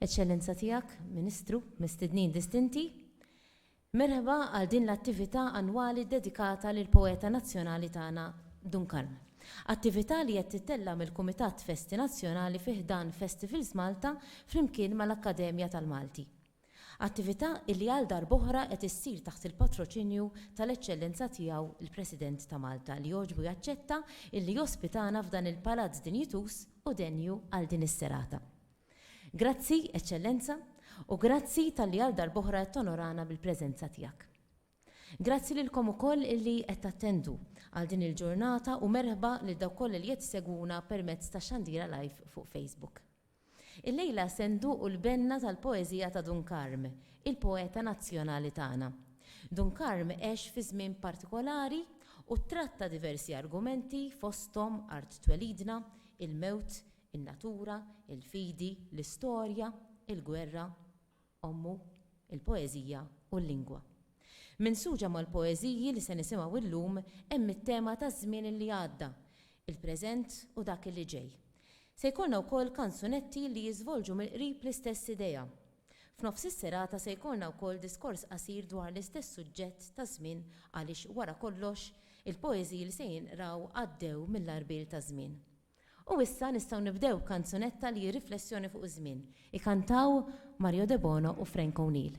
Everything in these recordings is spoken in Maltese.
Eċċellenza Tiegħek, Ministru, mistednin distinti, merħba għal din l-attività annwali ddedikata lill-poeta nazzjonali tagħna Dun Karm. Attività li qed tittella' mill-Kumitat Festi Nazzjonali fi ħdan Festivals Malta flimkien mal-Akkademja tal-Malti. Attività li għal darb'oħra qed issir taħt il-patroċinju tal-Eċċellenza Tiegħu l-President ta' Malta li jogħġbu jaċċetta illi jospitana f'dan il-palazz dinjituż u denju għal din is-serata. Grazzi, Eċċellenza, u grazzi talli għal darb'oħra qed tonorana bil-preżenza tiegħek. Grazzi lilkom ukoll illi qed tattendu għal din il-ġurnata u merħba lil dawk kollha li qed isegwuna permezz tax-xandira live fuq Facebook. Illejla se nduqu l-benna tal-poeżija ta' Dun Karm, il-poeta nazzjonali tagħna. Dun Karm għex fi żmien partikolari u ttratta diversi argumenti fosthom art twelidna, il-mewt, in-natura, il-fidi, l-istorja, il-gwerra. Ommu, il-poeżija u l-lingwa. Minsuġa mal-poeżiji li se nisimgħu illum hemm it-tema taż-żmien li għadda, il-preżent u dak li ġej. Se jkollna wkoll kanzunetti li jiżvolġu mill-qrib l-istess idea. F'nofs is-serata se jkollna wkoll diskors qasir dwar l-istess suġġett taż-żmien għaliex wara kollox il-poeżiji li se jinqraw għaddew mill-għarbiel taż-żmien. U issa nistgħu nibdew b'kanzunetta li hi riflessjoni fuq iż-żmien. Ikantaw Mario Debono u Frank O'Neill.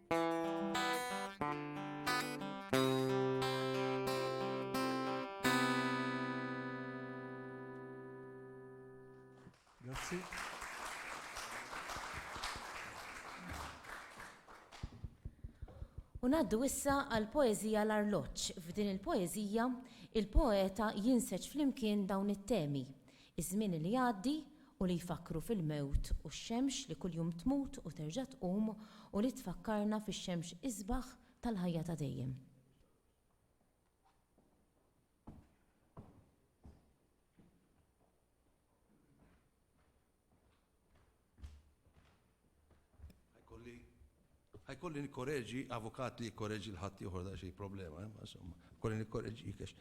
U naddu issa għal poezija l-arloġġ. F'din il-poezija, il-poeta jinseġ flimkien dawn it-temi, Iż-żmien li jgħaddi u li jfakkru fil-mewt u x-xemx li kuljum tmut u terġa' tqum u li tfakkarna fix-xemx isbaħ tal-ħajja ta' dejjem. Ħajkolli nikkoreġi avukat li jikkoreġi l-ħadd ieħor daqsxejn problema, eh, insomma, kolli nikkoreġik għax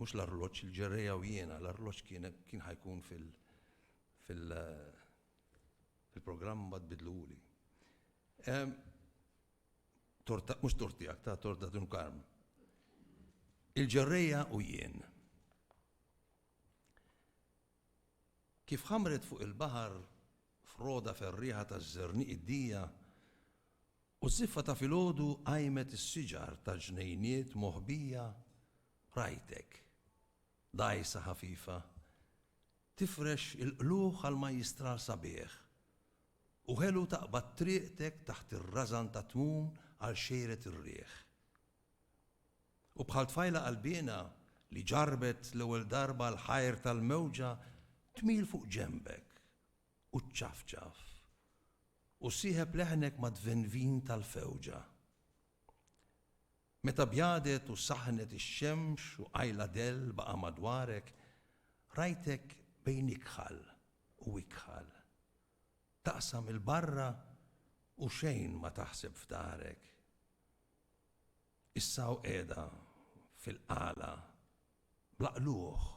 mhux l-arloġġ il-ġerreja u jiena, l-arloġġ kien kien ħajkun fil- fil- fil-programm mbagħad bidluhuli. Ehm, torta, mhux tortijak, ta' torta tun karm. Il-ġerreja u jien. Kif ħammret fuq il-baħar froda ferrieħa taż-żerniq id-dija, u ż-żiffa ta' filgħodu qajmet is-siġar tal-ġnejniet moħbija, rajtek, dgħajsa ħafifa, tifrex il-qlugħ għal majjistral sabiħ, u ħelu taqbad triqtek taħt ir-rażan tat-tmun għal xejret ir-riħ. U bħal tfajla qalbiena li ġarrbet l-ewwel darba l-ħajr tal-mewġa tmil fuq ġenbek u ċċafċaf u ssieħeb leħnek mad-dvenvin tal-fewġa. Meta bjadet u saħnet ix-xemx u qajla dell baqa' madwarek, rajtek bejn ikħal u ikħal. Taqsam 'il barra u xejn ma taħseb f'darek. Issa hawn qiegħda fil-qala, bla qlugħ,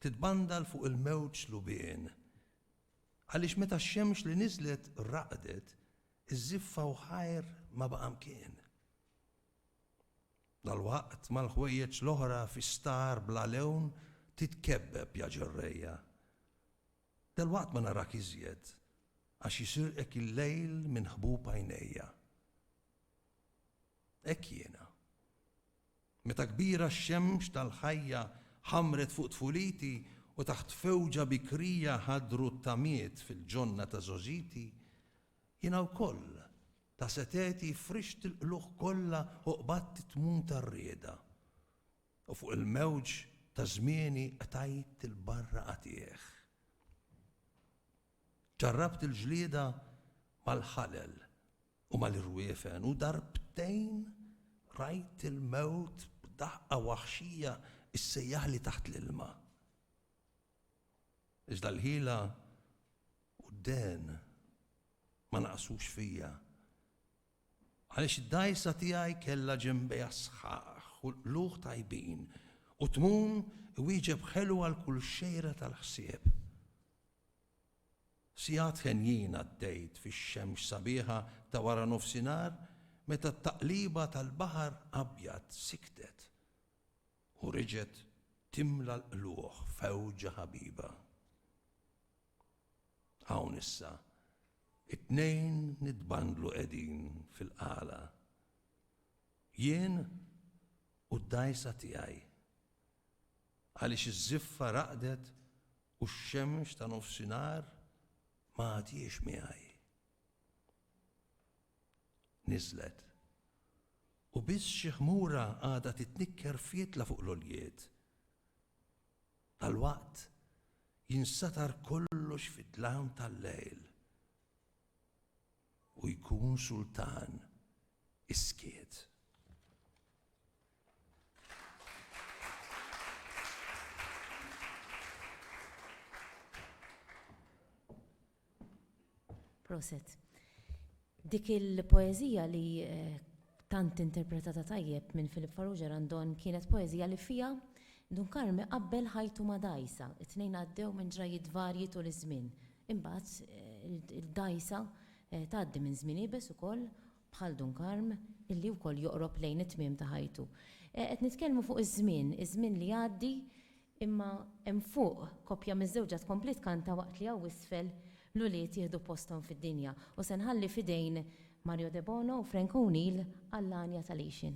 titbandal fuq il-mewġ lubien. Għaliex meta x-xemx li niżlet raqdet, iż-żiffa u ħajr ma baqa' mkien. Dalwaqt mal-ħwejjeġ l-oħra fi star bla lewn titkebbeb, ja ġerrejja. Dalwaqt ma narak iżjed, għax jisirqek il-lejl minn ħbub għajnejja. Hekk jiena. Meta kbira x-xemx tal-ħajja ħammret fuq tfuliti u taħt fewġa bikrija ħadru t-tamiet fil-ġonna ta' żgħożiti, jiena wkoll ta' setgħeti frixt il-qlugħ kollha u qbadt it-tmun tar-rieda, u fuq il-mewġ ta' żmieni qtajt il-barra qatigħ. Ġarrabt il-ġlieda mal-ħalel u mal-irwiefen u darbtejn rajt il-mewt b'daħqa waħxija ssejjaħli taħt l-ilma. Iżda l-ħila u d-dehn ma naqasux fija Għaliex id-dgħajsa tiegħi kellha ġenbejha sħaħ u l-qlugħ tajbin, u tmun iwieġeb ħelu għal kull xejra tal-ħsieb. Sigħat henjin għaddejt fix-xemx sabiħa ta' wara nofsinhar meta t-taqliba tal-baħar abjad siktet u reġgħet timla l-qlugħ f'għewġa ħabiba. Hawn issa, it-tnejn nitbandlu qegħdin fil-qala. Jien u d-dgħajsa tiegħi. Għaliex iż-żiffa raqdet u x-xemx ta' nofsinhar ma għadhiex miegħi. Niżlet. U biss xi ħmura għadha titnikker f'jietla fuq l-għoljiet. Dalwaqt jinsatar kollox fid-dlam tal-lejl u jkun sultan is-skiet. Proset. Dik il-poeżija li tant interpretata tajjeb minn Philip Farrugia Randon kienet poeżija li fiha Dun Karmi qabbel ħajtu ma' dgħajsa. It-tnejn għaddew minn ġrajjiet varji tul iż-żmien. Imbagħad il-dgħajsa tgħaddi minn żmien iebes ukoll bħal Dun Karm, illi wkoll joqrob lejn it-tmiem ta' ħajtu. Qed nitkellmu fuq iż-żmien, iż-żmien li jgħaddi, imma hemm fuq, koppja miżżewġa tkompli tkanta waqt li hawn isfel l-ulied jieħdu posthom fid-dinja. U se nħalli f'idejn Mario Debono u Frank O'Neill Għall-Għanja tal-Għixien.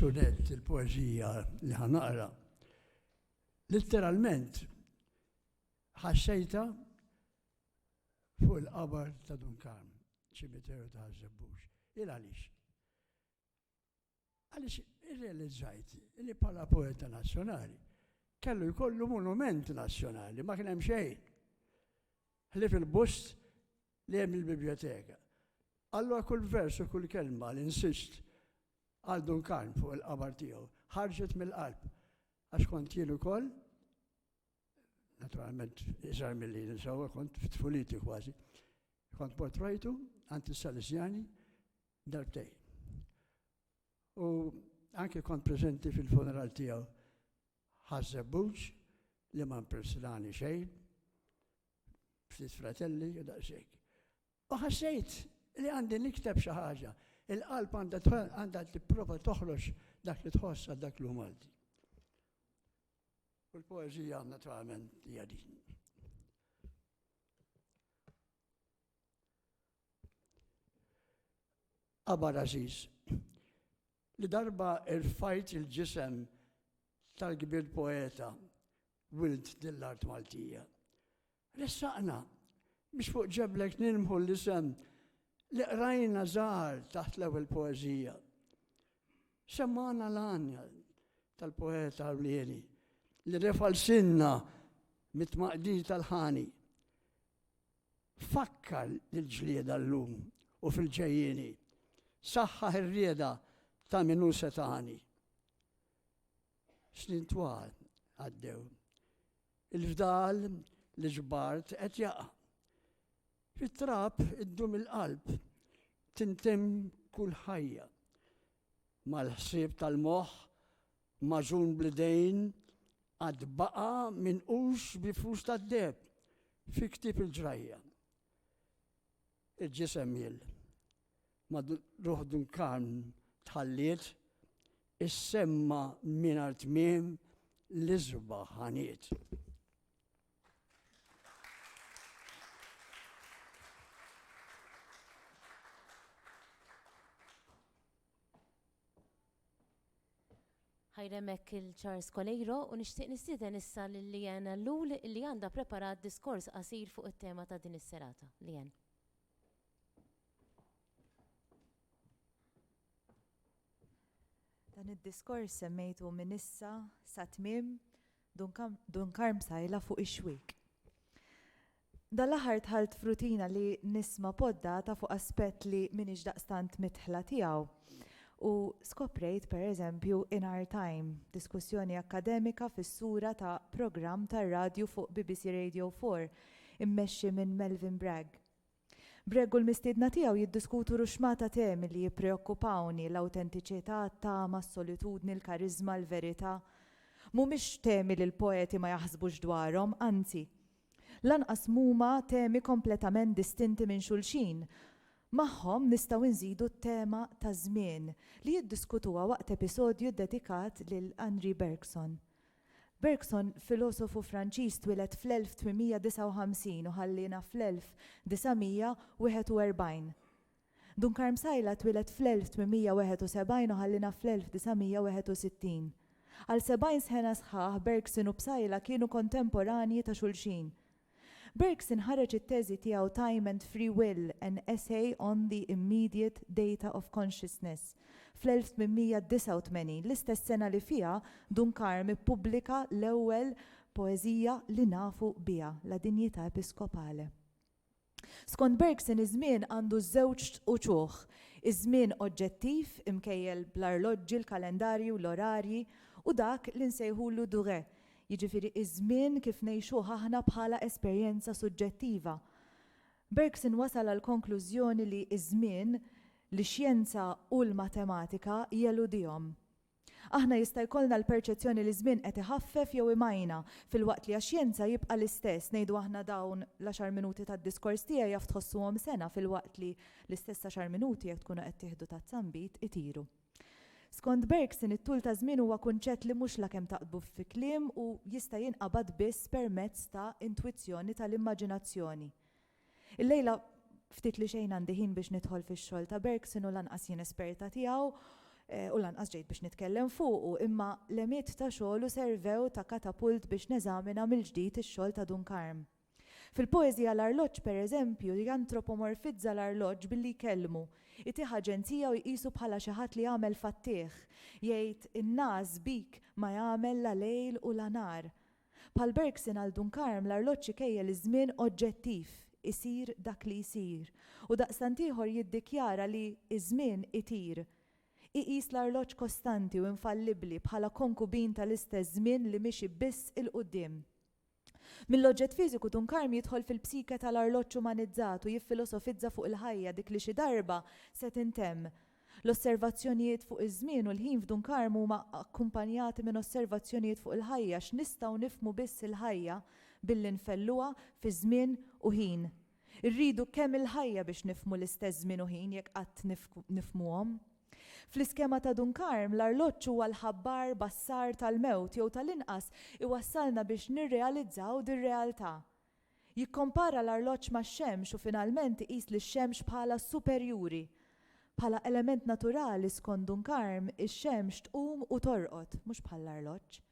il-sunet, il-poezija li ħanaqra, Litteralment, ħassejta fuq il-qabar ta' Dun Karm, ċimiteru ta' Ħażebbux. Il għaliex? Għaliex irrealizzajt li bħala poeta nazzjonali kellu jkollu monument nazzjonali, ma kien hemm xejn. Ħlif il-bust li hemm il-biblioteka. Allora kull vers u kull kelma li insist għal Dun Karm fuq il-qabar tiegħu ħarġet mill-qalb. Għax kont jien ukoll, naturalment iżgħar milli nisawa kont f'tfuliti kważi, kont mort rajtu għand is-Salesjani darbtej. U anke kont preżenti fil-funeral tiegħu ħażżebbuġ li ma mpersilani xejn, ftit fratelli u daqsxejn. U ħassejt li għandi nikteb xi ħaġa. Il-qalb għandha tipprova toħroġ dak li tħoss għal dak li hu Malti. U l-poeżija naturalment hija din. Abar Aziz, li darba irfajt il-ġisem tal-kbir poeta wild dill-art Maltija. Ressaqna biex fuq ġeblek nilmħu l-isem li qrajna żgħar taħt l-ewwel poeżija. Semmana l-għanja tal-poeta Arlieni li refalsinna mit-tmaqdi tal-ħani. Fakkar l-ġlieda l-lum u fil-ġejjini, saħħa ir-rieda ta' minu setani. Snin twal għaddew. Il-fdal li ġbart qed jaqa'. Fit-trab iddum il-qalb tintem kull ħajja. Mal-ħsieb tal-moħħ maġun blidejn għad baqa minn ux bi flus tad-deb fi ktib il-ġrajja. Il-ġisem jil. ma' Ruħ Dun Karm tħalliet, issemma' mingħajr tmiem l-isbaħ ħaniet. Ħajremek il-Charles Coleiro u nixtieq nistieden issa lil Liana Lul li għandha preparat diskors qasir fuq it-tema ta' din is-serata. Lian. Dan id-diskors semmejtu minn issa sa tmiem Dun Karm Psaila fuq ix-xwiek. Dan l-aħħar dħalt f'rutina li nisma' poddata fuq aspett li m'iniex daqstant midħla tiegħu u skoprejt per eżempju in our time, diskussjoni akkademika fis-sura ta' programm tar-radju fuq bbc Radio Four immexxi minn Melvyn Bragg. Bragg u l-mistiedna tiegħu jiddiskutu ruxxma ta' temi li jippreokkupawni, l-awtentiċità, t-tama, s-solitudni, l-kariżma, l-verità. Mhumiex temi li l-poeti ma jaħsbux dwarhom, anzi. Lanqas mhuma temi kompletament distinti minn xulxin. Magħhom nistgħu nżidu t-tema taż-żmien, li jiddiskutuha waqt episodju ddedikat lil Henri Bergson. Bergson, filosofu Franċiż twieled fl-1859 u ħalliena fl-1941. Dun Karm Sajla twieled fl-1871 u ħalliena fl-1961. Għal sebgħin sħena sħaħ Bergson u Psaila kienu kontemporanji ta' xulxin. Birks inħareġ it-teżi tiegħu Time and Free Will, An Essay on the Immediate Data of Consciousness fl-1889, l-istess sena li fiha Duncarme ippubblika l-ewwel poeżija li nafu biha, La Dignità Episcopale. Skont Birks in iż-żmien għandu żewġ uċuħ, iż-żmien oġġettiv, imkejjel bl-arloġġi, l-kalendarji u l-orarji, u dak li nsejħulu durée, jiġifieri ż-żmien kif ngħixuh aħna bħala esperjenza suġġettiva. Bergson wasal għall-konklużjoni li ż-żmien, l-xjenza u l-matematika jeludihom. Aħna jista' jkollna l-perċezzjoni li ż-żmien qed iħaffef jew imajna, filwaqt li għax-xjenza jibqa' l-istess, ngħidu aħna dawn l-għaxar minuti tad-diskors tiegħi jaf tħossuhom sena filwaqt li l-istess għaxar minuti jekk tkunu qed tieħdu tazza nbid itiru. Skont Bergson, it-tul ta' żmien huwa kunċett li mhux lakemm taqdbu fi kliem u jista' jinqabad biss permezz ta' intwizzjoni tal-immaġinazzjoni. Illejla ftit li xejn għandi ħin biex nidħol fix-xogħol ta' Bergson u lanqas jien esperta tiegħu u lanqas ġejt biex nitkellem fuqu, imma l-għemied ta' xogħlu servew ta' katapult biex neżamina mill-ġdid ix-xogħol ta' Dun Karm. Fil-poeżija L-arloġġ, per eżempju, jantropomorfizza l-arloġġ billi jkellmu, itih aġenzija u jqisu bħala xi ħadd li jagħmel fattih, jgħid, In-nagħaż bik ma jagħmel la lejl u la nhar. Bħal Bergson għal Dunkarm l-arloġġ ikejjel iż-żmien oġġettiv, isir dak li jsir, u daqstant ieħor jiddikjara li iż-żmien itir. Iqis l-arloġġ kostanti u infallibbli bħala konkubin tal-istess żmien li mixi biss 'il quddiem. Mill-oġġett fiżiku Dun Karm jidħol fil-psike tal-arloġġ umanizzat u jiffilosofizza fuq il-ħajja dik li xi darba se tintemm. L-osservazzjonijiet fuq iż-żmien u l-ħin f'Dun Karm huma akkumpanjati minn osservazzjonijiet fuq il-ħajja x'nistgħu nifhmu biss il-ħajja billi nfelluha fi żmien u ħin. Irridu kemm il-ħajja biex nifhmu l-istess żmien u ħin jekk qatt nifhmuhom. Fl-iskema ta' Dun Karm, l-arloġġ huwa l-ħabbar bassar tal-mewt jew tal-inqas iwassalna biex nirrealizzaw dir-realtà. Jikkompara l-arloġġ max-xemx u finalment iqis lix-xemx bħala superjuri. Bħala element naturali, skont Dun Karm, ix-xemx tqum u torqod, mhux bħall-arloġġ.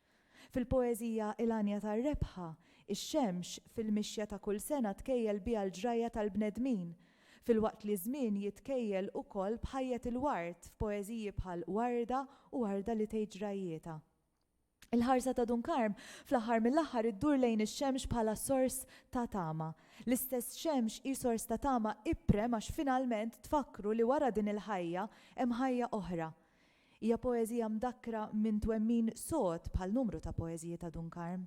Fil-poeżija 'Il-Għanja tar-Rebħa', ix-xemx, fil-mixja ta' kull sena tkejjel biha l-ġrajja tal-bnedmin, filwaqt li ż-żmien jitkejjel ukoll b'ħajjet il-ward f'poeżiji bħal 'Warda' u 'Warda li tgħid ġrajjietha'. Il-ħarsa ta' Dun Karm, fl-aħħar mill-aħħar iddur lejn ix-xemx bħala sors ta' tama. L-istess xemx hi sors ta' tama iprem għax finalment tfakkru li wara din il-ħajja hemm ħajja oħra. Hija poeżija mdakkra minn twemmin sod bħal numru ta' poeżiji ta' Dun Karm.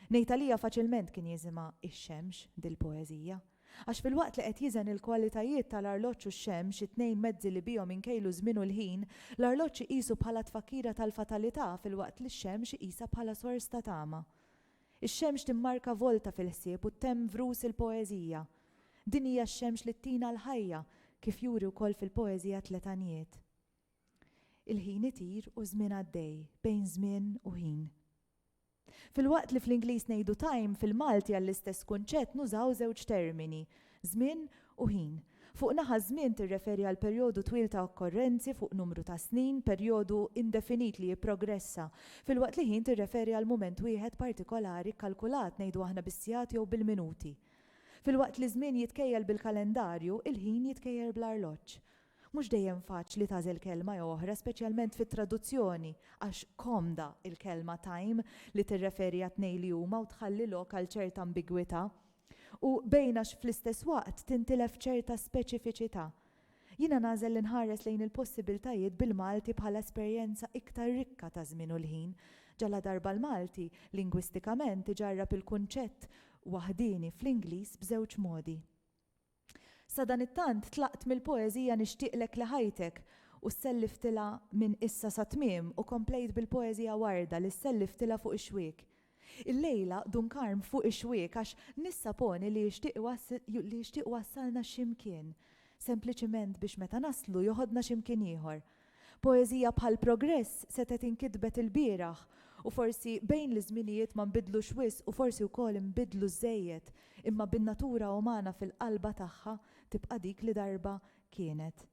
Ngħid għalija faċilment kien jiżimha ix-xemx dil-poeżija. Għax filwaqt li qed jiżen il-kwalitajiet tal-arloġġ u x-xemx, it-tnejn mezzi li bihom inkejlu ż-żmien u l-ħin, l-arloġġ iqisu bħala tfakkira tal-fatalità filwaqt li x-xemx iqisha bħala sors ta' tama. Ix-xemx timmarka volta fil-ħsieb u ttemm vrus il-poeżija. Din hija x-xemx li ttina l-ħajja, kif juri wkoll fil-poeżija Tliet Għanjiet. Il-ħin itir u ż-żmien għaddej, bejn żmien u ħin. Filwaqt li fl-Ingliż ngħidu time, fil-Malti għall-istess kunċett nużaw żewġ termini, żmien u ħin. Fuq naħa żmien tirreferi għal perjodu twil ta' okkorrenzi fuq numru ta' snin, perjodu indefinit li jipprogressa, filwaqt li ħin tirreferi għal mument wieħed partikolari kkalkulat ngħidu aħna bis-sigħat jew bil-minuti. Filwaqt li ż-żmien jitkejjel bil-kalendarju, il-ħin jitkejjel bl-arloġġ. Mhux dejjem faċli tagħżel kelma jew oħra, speċjalment fit-traduzzjoni, għax komda l-kelma time li tirreferi għat-tnejn li huma u tħalli lok għal ċerta ambigwità. U bejn għax fl-istess waqt tintilef ċerta speċifiċità. Jiena nagħżel li nħares lejn il-possibiltajiet bil-Malti bħala esperjenza iktar rikka ta' żmien u l-ħin, ġaladarba l-Malti, lingwistikament, iġarrab il-kunċett waħdieni fl-Ingliż b'żewġ modi. Sadanittant tlaqt mill-poeżija Nixtieqlek li ħajtek u sselliftilha Minn issa sat-tmiem u komplejt bil-poeżija Warda li sselliftilha Fuq ix-xwiek. Illejla Dun Karm fuq ix-xwiek għax nissaponi li jixtieq iwassalna xi mkien, sempliċiment biex meta naslu joħodna xi mkien ieħor. Poeżija bħal Progress setgħet inkitbet ilbieraħ u forsi bejn l-iżminijiet ma nbidlux wisq u forsi wkoll inbidlu żżejjed imma bin-natura umana fil-qalba tagħha tibqa' dik li darba kienet.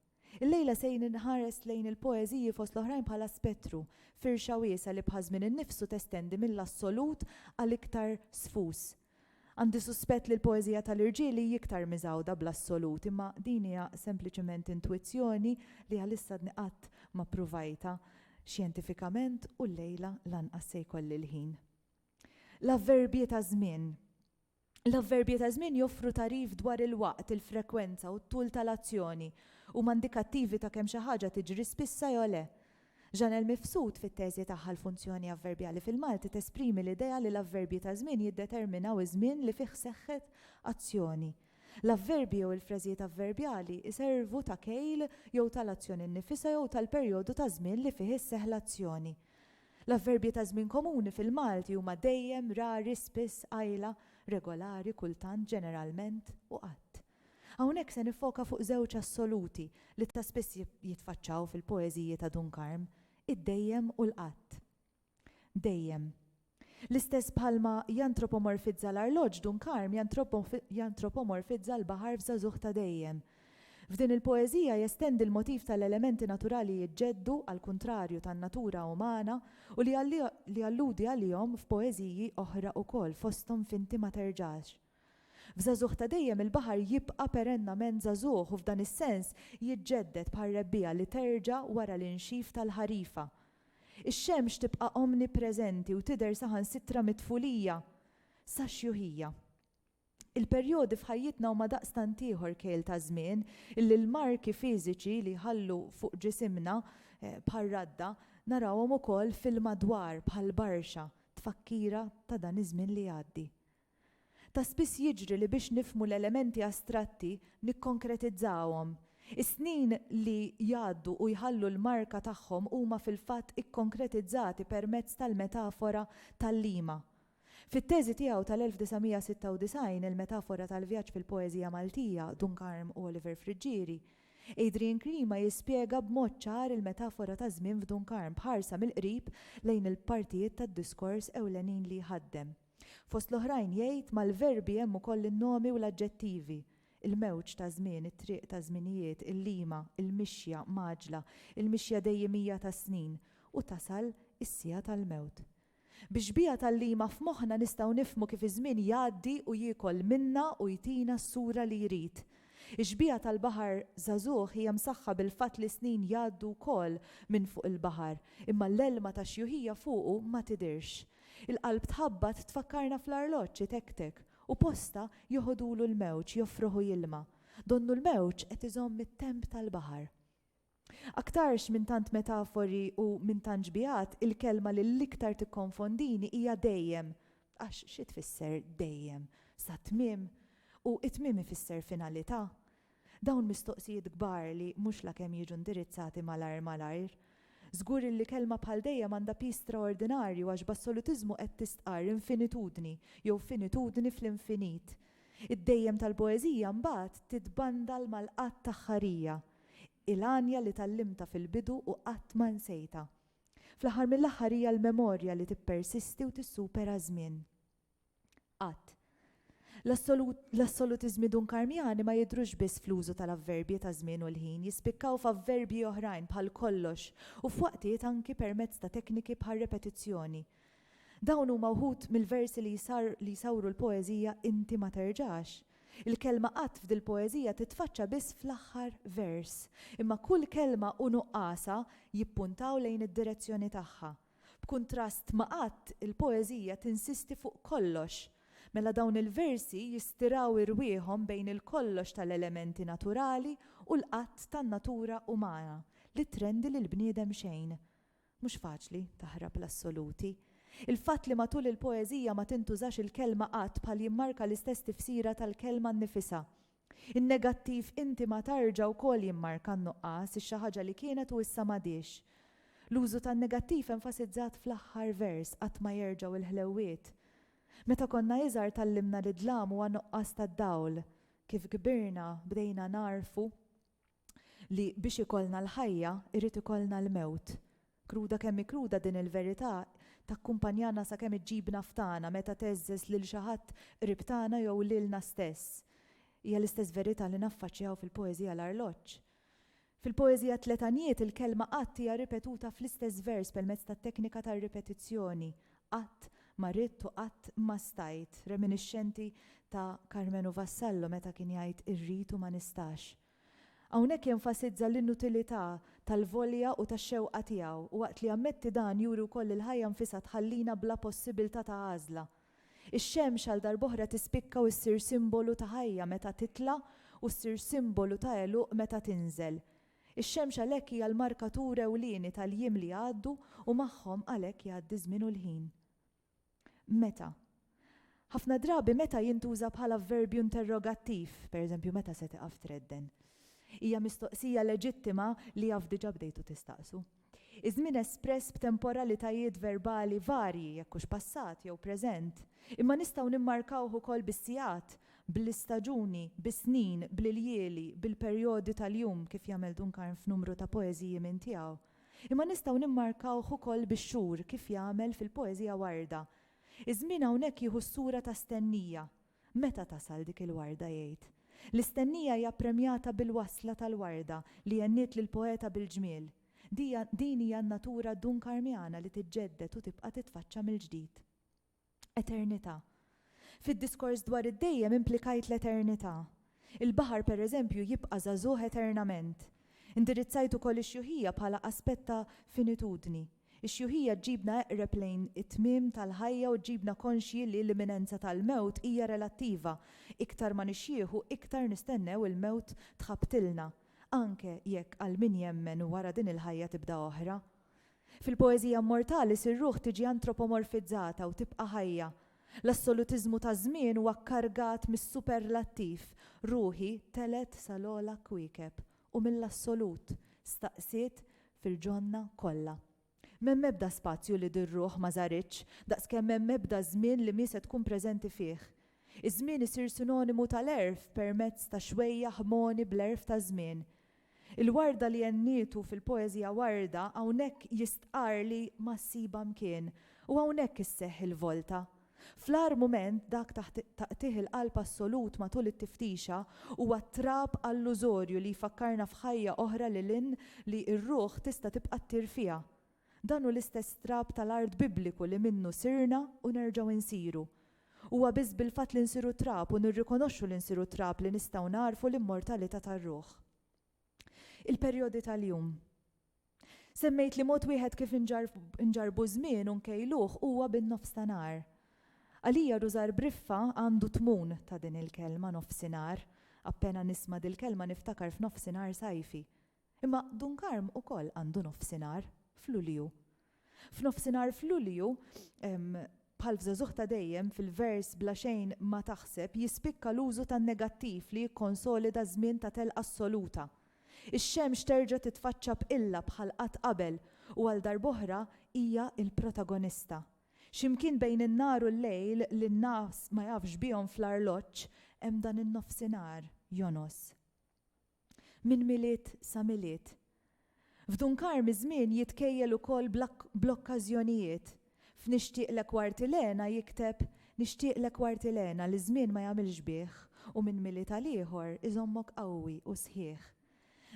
Illejla se inħares lejn il-poeżiji fost l-oħrajn bħala spettru, firxa wiesgħa li bħaż-żmien innifsu testendi mill-assolut għal iktar sfus. Għandi suspett li l-poeżija tal-irġiel hi iktar miżgħuda bl-assolut, imma din hija sempliċement intwizzjoni li għalissatni qatt ma ppruvajtha xjentifikament u llejla lanqas se jkolli l-ħin. L-avverbji ta' żmien. L-avverbji ta' żmien joffru tagħrif dwar il-waqt, il-frekwenza u t-tul tal-azzjoni. Huma indikattivi ta' kemm xi ħaġa tiġri spissa jew le. Jeanel Mifsud fit-teżi tagħha L-Funzjoni Avverbjali fil-Malti tesprimi l-idea li l-avverbji ta' żmien jiddeterminaw iż-żmien li fih seħħet azzjoni. L-avverbji jew il-frażijiet avverbjali jservu ta' kejl jew tal-azzjoni nnifisha jew tal-perjodu ta' żmien li fih isseħħ l-azzjoni. L-avverbji ta' żmien komuni fil-Malti huma dejjem, rari, spiss, qajla, regolari, kultant, ġeneralment, u qatt. Hawnhekk se niffoka fuq żewġ assoluti li ta' spiss jitfaċċaw fil-poeżiji ta' Dun Karm, id-dejjem u l-qatt. Dejjem. L-istess bħalma jantropomorfizza l-arloġġ, Dun Karm jantropomorfizza l-baħar f'Żagħżugħ ta' Dejjem. F'din il-poeżija jestendi l-motiv tal-elementi naturali jiġġeddu għall-kuntrarju tan-natura umana u li jalludi għalihom f'poeżiji oħra ukoll fosthom f'Inti ma terġax. F'żagħżugħ ta' dejjem il-baħar jibqa' perennament żagħżugħ u f'dan is-sens jiġġedded bħar-rebbiegħa li terġa' wara l-inxif tal-ħarifa. Ix-xemx tibqa' omnipreżenti u tidher saħansitra mit-tfulija sax-xjuħija. Il-perjodi f'ħajjitna huma daqstant ieħor kejl ta' żmien illi l-marki fiżiċi li jħallu fuq ġisimna bħar-radda narawhom ukoll fil-madwar bħall-barxa tfakkira ta' dan iż-żmien li jgħaddi. Ta' spiss jiġri li biex nifhmu l-elementi astratti nikkonkretizzahom. Is-snin li jgħaddu u jħallu l-marka tagħhom huma fil-fatt ikkonkretizzati permezz tal-metafora tal-lima. Fit-teżi tiegħu tal-1996 Il-Metafora tal-Vjaġġ fil-Poeżija Maltija, Dun Karm u Oliver Friggieri, Adrian Klima jispjega b'mod ċar il-metafora taż-żmien f'Dun Karm b'ħarsa mill-qrib lejn il-partijiet tad-diskors ewlenin li jħaddem. Fost l-oħrajn jgħid, Mal-verbi hemm ukoll in-nomi u l-aġġettivi, il-mewġ ta' żmien, it-triq ta' żminijiet, il-lima, il-mixja mgħaġġla, il-mixja dejjimija tas-snin, u tasal is-siegħa tal-mewt. Bix-xbieha tal-lima f'moħħna nistgħu nifhmu kif iż-żmien jgħaddi u jiekol minna u jtina s-sura li jrid. Ix-xbieha tal-baħar żagħżugħ hija msaħħa bil-fatt li s-snin jgħaddu wkoll minn fuq il-baħar, imma l-għelma tax-xjuħija fuqu ma tidhirx. Il-qalb tħabbat tfakkarna fl-arloġġ itektek u posta joħodulu l-mewġ joffruħu jilma'. Donnu l-mewġ qed iżomm it-temp tal-baħar. Aktarx minn tant metafori u minn tant xbiehat, il-kelma li l-iktar tikkonfondini hija dejjem. Għax xi tfisser dejjem? Sat-tmiem? U t-tmiem ifisser finalità? Dawn mistoqsijiet kbar li mhux la kemm jiġu indirizzati malajr malajr. Żgur illi kelma bħal dejjem għandha piż straordinarju għax b'assolutiżmu qed tistqarr infinitudni jew finitudni fl-infinit. Id-dejjem tal-poeżija mbagħad titbandal mal-qatt-aħħarija. Il-għanja li tgħallimtha fil-bidu u qatt ma nsejtha. Fl-aħħar mill-aħħar hija l-memorja li tippersisti u tissupera ż-żmien. Qatt. L-assolutiżmi dunkarmjani ma jidhrux biss fl-użu tal-avverbji taż-żmien u l-ħin, jispikkaw f'avverbji oħrajn bħal kollox u f'waqtiet anki permezz ta' tekniki bħar-repetizzjoni. Dawn huma wħud mill-versi li li jsawru l-poeżija Inti ma terġax. Il-kelma qatt f'dil-poeżija titfaċċa biss fl-aħħar vers, imma kull kelma u nuqqasha jippuntaw lejn id-direzzjoni tagħha. B'kuntrast ma' qatt, il-poeżija tinsisti fuq kollox. Mela dawn il-versi jistiraw irwieħhom bejn il-kollox tal-elementi naturali u l-qatt tan-natura umana li trendi lill-bniedem xejn. Mhux faċli taħrab l-assoluti. Il-fatt li matul il-poeżija ma tintużax il-kelma qatt bħal jimmarka l-istess tifsira tal-kelma nnifisha. In-negattiv inti ma tarġa wkoll jimmarka n-nuqqas, ix-xi ħaġa li kienet u issa m'għadhiex. L-użu tan-negattiv enfasizzat fl-aħħar vers, qatt ma jerġgħu il-ħlewwiet. Meta konna iżgħar tgħallimna li d-dlam huwa nuqqas tad-dawl. Kif kbirna, bdejna nagħrfu. li biex ikollna l-ħajja jrid ikollna l-mewt. Kruda kemm hi kruda din il-verità takkumpanjana sakemm iġġibna f'tagħna meta tgħeżżeż lil xi ħadd qrib tagħna jew lilna stess. Hija l-istess verità li naffaċċjaw fil-poeżija L-Arloġġ. Fil-poeżija Tliet Għanjiet il-kelma qatt hija ripetuta fl-istess vers permezz tat-teknika tar-ripetizzjoni, Qatt ma ridt u qatt ma stajt, reminixxenti ta' Karmenu Vassallo meta kien jgħid irrid u ma nistax. Hawnhekk jenfasizza l-inutilità tal-volja u tax-xewqa tiegħu u waqt li jammetti dan juri wkoll li l-ħajja nfisha tħallina bla possibiltà ta' għażla. Ix-xemx għal darb'oħra tispikka u ssir simbolu ta' ħajja meta titla' u ssir simbolu ta' għeluq meta tinżel. Ix-xemx għalhekk hija l-markatur ewlieni tal-jiem li jgħaddu u magħhom għalhekk jgħaddi ż-żmien u l-ħin. Meta. Ħafna drabi meta jintuża bħala vverbju interrogattiv, pereżempju meta se tiqaf tredden. Hija mistoqsija leġittima li jaf diġà bdejtu tistaqsu. Iż-żmien espress b'temporalitajiet verbali varji, jekk hux passat jew preżent, imma nistgħu nimmarkawh ukoll bis-sigħat, bl-istaġuni, bis-snin, bl-iljieli, bil-perjodi tal-jum, kif jagħmel Dunkarn f'numru ta' poeżiji minn tiegħu. Imma nistgħu nimmarkawh ukoll bix-xhur, kif jagħmel fil-poeżija Warda. Iż-żmien hawnhekk jieħu s-sura ta' stennija, Meta tasal dik il-warda jgħid, L-istennija hija ppremjata bil-wasla tal-warda li għenniet lill-poeta bil-ġmiel. Dija, din hija n-natura dunkarmiana li tiġġedded u tibqa' titfaċċa mill-ġdid. Eternità. Fid-diskors dwar id-dejjem implikajt l-eternità. Il-baħar, pereżempju, jibqa' żagħżugħ eternament. Indirizzajt ukoll ix-xjuħija bħala aspett ta' finitudni. Ix-xjuħija ġġibna eqreb lejn it-tmiem tal-ħajja u ġġibna konxji li l-imminenza tal-mewt hija relattiva, iktar ma nixjieħu iktar nistennew il-mewt tħabbtilna, anke jekk għal min jemmen wara din il-ħajja tibda oħra. Fil-poeżija mmortali sir-ruħ tiġi antropomorfizzata u tibqa' ħajja. L-assolutiżmu taż-żmien huwa kkargat mis-superlattiv, ruħi telgħet sal-ogħla kwiekeb, u mill-assolut, staqsiet fil-ġonna kollha. M'hemm ebda spazju li dir-ruħ ma żaritx, daqskemm m'hemm ebda żmien li mhi se tkun preżenti fih. Iż-żmien isir sinonimu tal-għerf permezz ta' xwejjaħ mogħni bl-għerf taż-żmien. Il-warda li għennietu fil-poeżija Warda hawnhekk jistqarr li ma ssibha mkien u hawnhekk isseħħ il-volta. Fl-agħar mument, dak ta' taqtigħ il-qalb assolut matul it-tiftixa, huwa trab allużorju li jfakkarna f'ħajja oħra lil hinn li r-ruħ tista' tibqa' ttir fiha. Dan hu l-istess trab tal-art Bibliku li minnu sirna u nerġgħu nsiru. Huwa biss bil-fatt li nsiru trab u nirrikonoxxu li nsiru trab li nistgħu nagħrfu l-immortalità tar-ruħ. Il-perjodi tal-jum. Semmejt li mod wieħed kif inġarrbu ż-żmien u nkejluh huwa bin-nofstanhar. Għalija Rużar Briffa għandu tmun ta' din il-kelma nofsinhar. Appena nisma' dil-kelma niftakar f'nofsinhar sajfi. Imma Dunkarm ukoll għandu nofsinhar f'Lulju. F'nofsinhar f'Lulju, bħal f'Żagħżugħ ta' Dejjem, fil-vers Bla xejn ma taħseb jispikka l-użu tan-negattiv li jikkonsolida żmien ta' telqa assoluta. Ix-xemx terġa' titfaċċa b'qilla bħal qatt qabel u għal darb'oħra hija l-protagonista. X'imkien bejn in-nhar u l-lejl li n-nas ma jafx bihom fl-arloġġ hemm dan in-nofsinhar jonos minn Milied sa Milied. F'Dunkar miż-żmien jitkejjel ukoll bl-okkażjonijiet. F'Nixtieqlek Wartilena jikteb Nixtieqlek Wartilena li ż-żmien ma jagħmilx bih u minn Milied għal ieħor iżommok qawwi u sħiħ.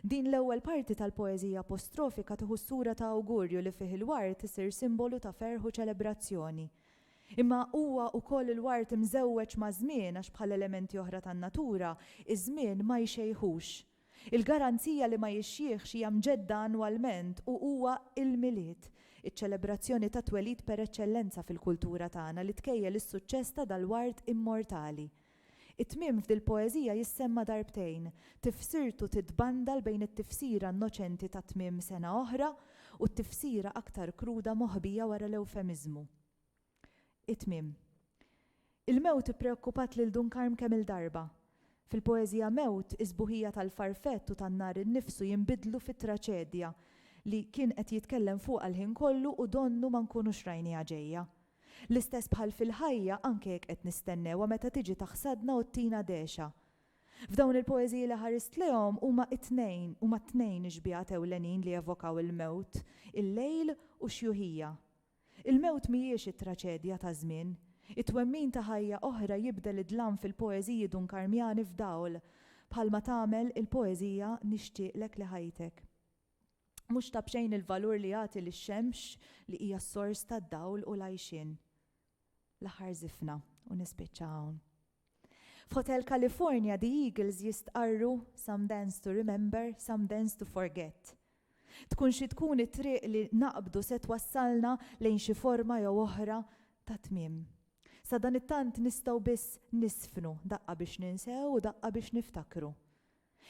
Din l-ewwel parti tal-poeżija apostrofika tieħu s-sura ta' awgurju li fih il-ward isir simbolu ta' ferħ u ċelebrazzjoni. Imma huwa wkoll il-ward imżewweġ maż-żmien għax bħal elementi oħra tan-natura, iż-żmien ma jxejħux. Il-garanzija li ma jixjieħx hija mġedda annwalment u huwa il-Milied, iċ-ċelebrazzjoni tat-twelid per eċċellenza fil-kultura tagħna li tkejjel is-suċċess ta' dal-ward immortali. It-tmiem f'dil-poeżija jissemma darbtejn, tifsirtu titbandal bejn it-tifsira innoċenti ta' tmiem sena oħra u t-tifsira aktar kruda moħbija wara l-ewfemiżmu. It-tmiem. Il-mewt ippreokkupat lil Dun Karm kemm-il darba. Fil-poeżija Mewt, is-sbuħija tal-farfett u tan-nar innifsu jinbidlu fi traċedja li kien qed jitkellem fuqha l-ħin kollu u donnu ma nkunux rajniha ġejja. L-istess bħal fil-ħajja anke jekk qed nistennewha meta tiġi taħsadna u ttina dehxa. F'dawn il-poeżiji li ħarist lejhom huma t-tnejn huma t-tnejn ix-xbiehat ewlenin li evokaw il-mewt, il-lejl u x-xjuħija. Il-mewt mhijiex it-traċedja ta' żmien. It-twemmin ta' ħajja oħra jibdel id-dlam fil-poeżiji Dunkarmjani f'dawl, bħalma tagħmel il-poeżija Nixtieqlek li ħajtek. Mhux ta' b'xejn il-valur li jagħti lix-xemx li hija s-sors tad-dawl u l-għajxien. L-aħħar żifna u nispiċċa hawn. F'Hotel California the Eagles jistqarru some dance to remember, some dance to forget. Tkun xi tkun it-triq li naqbdu se twassalna lejn xi forma jew oħra ta' tmiem. Sadanittant nistgħu biss nisfnu daqqa biex ninsew u daqqa biex niftakru.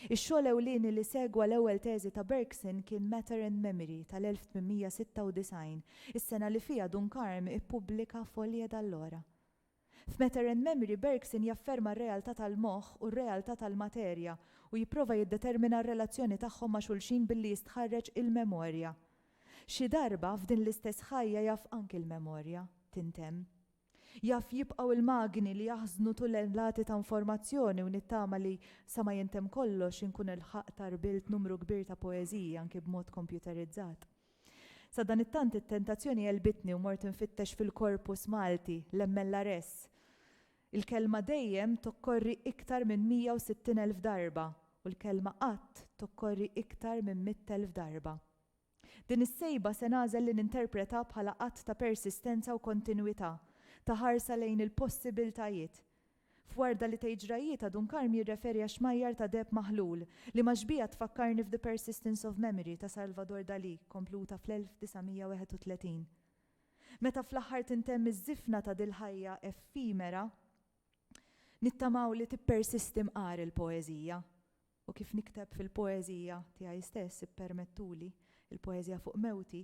Ix-xogħol ewlieni li segwa l-ewwel teżi ta' Bergson kien Matter and Memory tal-1896, is-sena li fiha Dunkarm ippubblika Folie d'allora. F'Matter and Memory Bergson jafferma r-realtà tal-moħħ u r-realtà tal-materja u jipprova jiddetermina r-relazzjoni tagħhom ma' xulxin billi jistħarreġ il-memorja. Xi darba, f'din l-istess ħajja jaf anki l-memorja tintemm. Jaf jibqgħu il-magni li jaħżnu tunnellati ta' informazzjoni u nittama li, sa ma jintemm kollox, inkun ilħaqt għarbilt numru kbir ta' poeżiji, anki b'mod kompjuterizzat. Sadanittant it-tentazzjoni għelbitni u mort infittex fil-corpus Malti, l-MLRS. Il-kelma dejjem tokkorri iktar minn 160,000 darba u l-kelma qatt tokkorri iktar minn 100,000 darba. Din is-sejba se nagħżel li ninterpreta bħala att ta' persistenza u kontinwità, ta' ħarsa lejn il-possibiltajiet. F'Warda li tgħid ġrajjietha Dun Karm jirreferi għax-xmajjar ta' deheb maħlul, li maġbija tfakkarni f'The Persistence of Memory ta' Salvador Dalí, kompluta fl-1931. Meta fl-aħħar tintemm iż-żifna ta' dil-ħajja effimera, nittamaw li tippersisti mqar il-poeżija. U kif nikteb fil-poeżija tiegħi stess, ippermettuli, il-poeżija fuq mewti,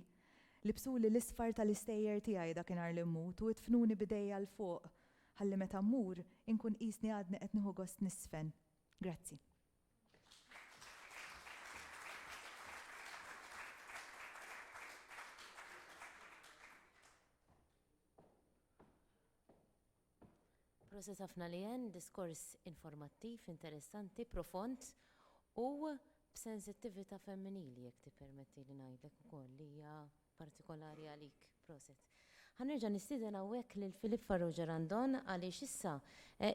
libsuli l-isfar tal-istejjer tiegħi dakinhar li mmut u idfnuni b'idejja 'l fuq ħalli meta mmur, inkun qisni għadni qed nieħu gost niżfen. Grazzi. Proset hafna Leanne, diskors informattiv, interessanti, profond u b'sensittivita femminili jekk tippermettili ngħidlek ukoll li hija partikolari għalik. Proset. Ħa nerġa' nistieden hawnhekk lil Philippe Farrugia Randon għaliex issa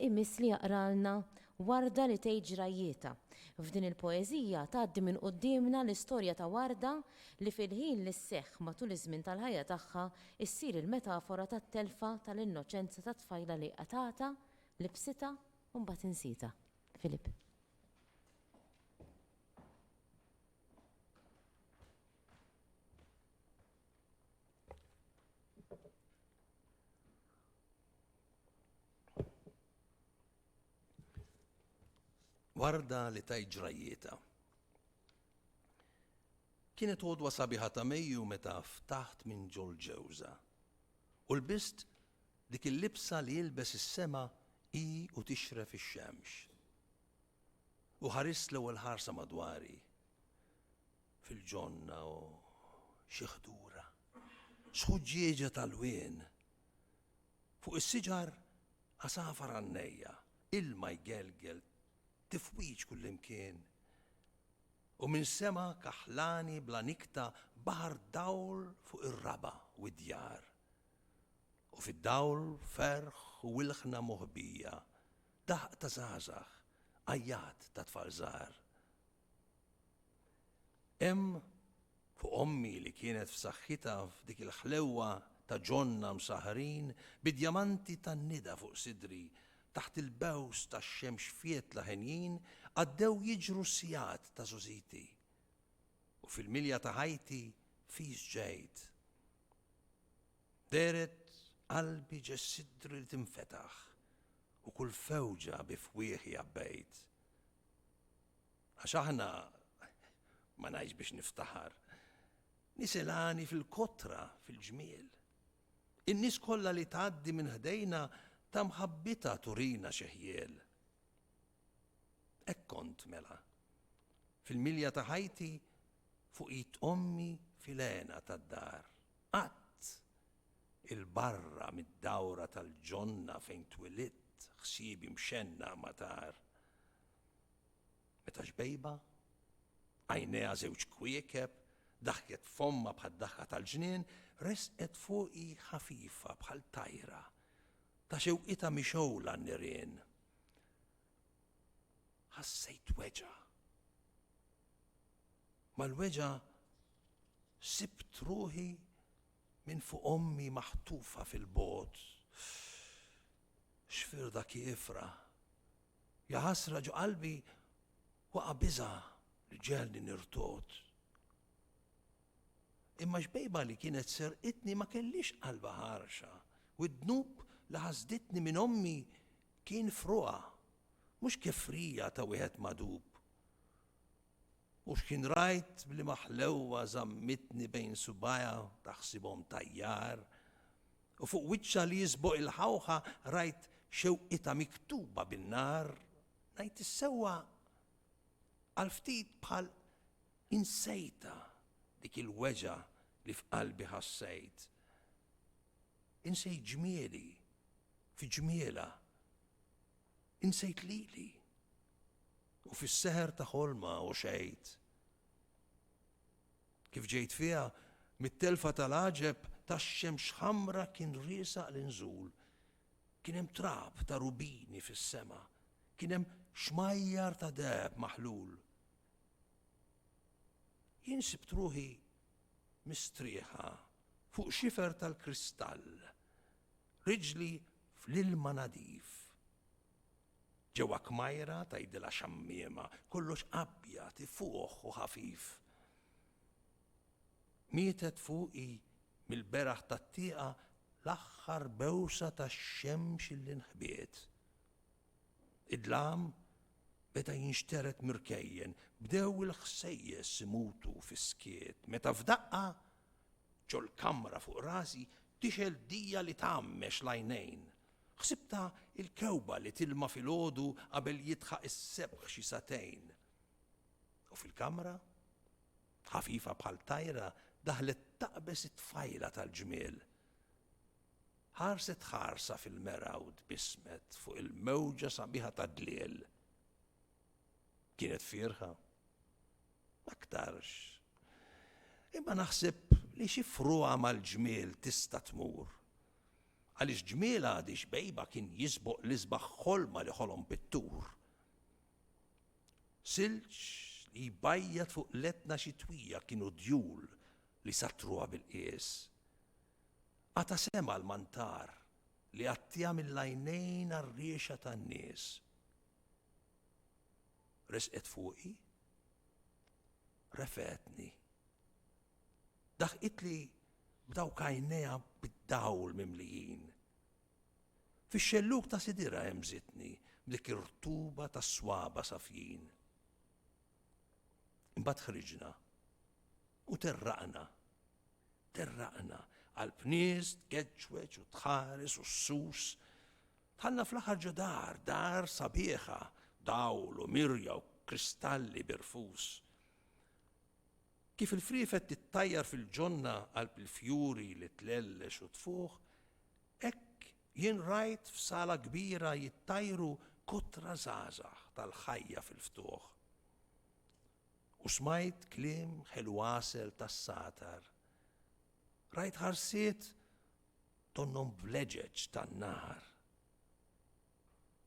imiss li jaqralna Warda li tgħid ġrajjietha. F'din il-poeżija tgħaddi minn quddiemna l-istorja ta' Warda li fil-ħin li sseħħ matul iż-żmien tal-ħajja tagħha Issir il-metafora tat-telfa tal-innoċenza tat-tfajla li qatgħatha, libsitha u mbagħad insietha. Philip. warda li tajt ġrajjieta. Kienet għodwa sabiħa ta' Mejju meta ftaħt minn ġol-ġewża, u lbist dik il-libsa li jilbes is-sema hi u tixref ix-xemx. U ħarist l-ewwel ħarsa madwari, fil-ġonna u xi ħdura, sħuġġieġa tal-wien, fuq is-siġar għasafar għannejja, ilma jgelgel Tifwiġ kullimkien, u minn sema kaħlani bla nikta baħar dawl fuq ir-raba' u d-djar. U fid-dawl ferħ u ilħna moħbija, daħq ta' żgħażagħ, għajjat ta' tfal żgħar. Hemm fuq ommi li kienet f'saħħitha f'dik il-ħlewwa ta' ġonna msahhrin bi djamanti tan-nida fuq sidri, taħt il-bews tax-xemx fjetla henjin għaddew jiġru s-sigħat ta' żużiti. U fil-milja ta' ħajti fis ġejt. Dehret qalbi ġe sidri li tinfetaħ u kull fewġa bi fwieħi għabbejt. Għax aħna, ma ngħidx biex niftaħar, nies ilgħani fil-kotra, fil-ġmiel. In-nies kollha li tgħaddi minn ħdejna ta' mħabbita turina xeħjiel. Hekk kont mela. Fil-milja ta' ħajti fuq it ommi filena tad-dar. Qatt il-barra mid-dawra tal-ġonna fejn twilit ħsiebi mxenna matar. Meta xbejba, għajnejha żewġ kwiekeb, daħket f'ommha bħad-daħka tal-ġnien, resqet fuqi ħafifa bħal tajra, ta' xewqitha mixgħula n-nirien. Ħassejt weġgħa. Mal-weġgħa sibt ruħi minn fuq ommi maħtufa fil-bot. Xfirda kiefra. Ja ħasra ġo qalbi waqa' biża' li ġegħelni nirtogħod. Imma xbejba li kienet serqitni ma kellhiex qalba ħarxa u d-dnub li ħasditni minn ommi kien f'ruha, mhux kefrija ta' wieħed magħdub. U x'kien rajt b'liema ħlewwa żammitni bejn subgħajha taħsibhom tajjar, U fuq wiċċha li jiżboq il-ħawħa rajt xewqitha miktuba bin-nar, ngħid is-sewwa għal ftit bħal insejtha dik il-weġgħa li f'qalbi ħassejt. Insejt ġmieli fi ġmielha. Insejt lili. U fis-seħer ta' ħolma u xejt. Kif ġejt fiha, mit-telfa tal-għaġeb tax-xemx ħamra kien riesaq l-inżul. Kien hemm trab ta' rubini fis-sema. Kien hemm xmajjar ta' deheb maħlul. Jien sibt ruħi mistrieħa fuq xifer tal-kristall, riġli fl-ilma nadif. Ġewwa kmajra tgħidilha xammiema, kollox abjad, ifuħ u ħafif. Mietet fuqi mill-beraħ tat-tieqa l-aħħar bewsa tax-xemx li nħbiet. Id-dlam beda jinxtered mir-rkejjen, bdew il-ħsejjes imutu fis-skiet, meta f'daqqa, ġol-kamra fuq rasi, tixgħel dija li tgħammex l-għajnejn, Ħsibtha l-kewba li tilma' filgħodu qabel jidħaq is-sebħ xi sagħtejn. U fil-kamra, ħafifa bħal tajra daħlet taqbeż it-tfajla tal-ġmiel. Ħarset ħarsa fil-mera u tbissmet fuq il-mewġa sabiħa tad-dliel. Kienet fierħa. Aktarx. Imma naħseb li xi fruha mal-ġmiel tista' tmur. Għaliex ġmiel Għadi Xbejba kien jisboq l-isbaħ ħolma li ħolom pittur. Silġ li jbajjat fuq l-Etna xitwija kienu djul li sattruha bil-qies. Qata' sema' l-mantar li għattiha mill-għajnejn għar-riexha tan-nies. Resqet fuqi, refgħetni. Daħqitli b'dawk għajnejha bid-dawl mimlijin. Fix-xellug ta' sidirha hemżitni b'dik ir-rtuba ta' swaba' safjin. Imbagħad ħriġna u terraqna. Terraqna qalb nies tgeġġweġ u tħares u ssus. Dħalna fl-aħħar ġo dar, dar sabiħa, dawl u mirja u kristalli birfus. Kif il-friefet tittajjar fil-ġonna qalb il-fjuri li tlellex u tfuħ, hekk jien rajt f'sala kbira jittajru kotra żgħażagħ tal-ħajja fil-ftuħ. U smajt kliem ħelu għasel tas-satar. Rajt ħarsiet donnhom vleġeġ tan-nar.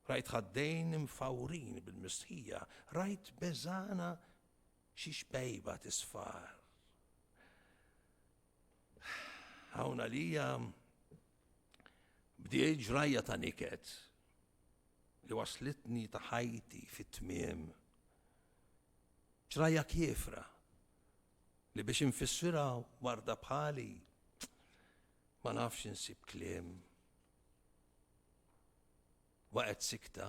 Rajt ħaddejn imfawrin bil-mistħija, rajt beżana Xi xbejba t'isfar. Hawn għalija bdiet ġrajja ta' niket li waslitni ta' ħajti fit-tmiem. Ġrajja kiefra li biex infissira warda bħali ma nafx insib kliem. Waqgħet sikta.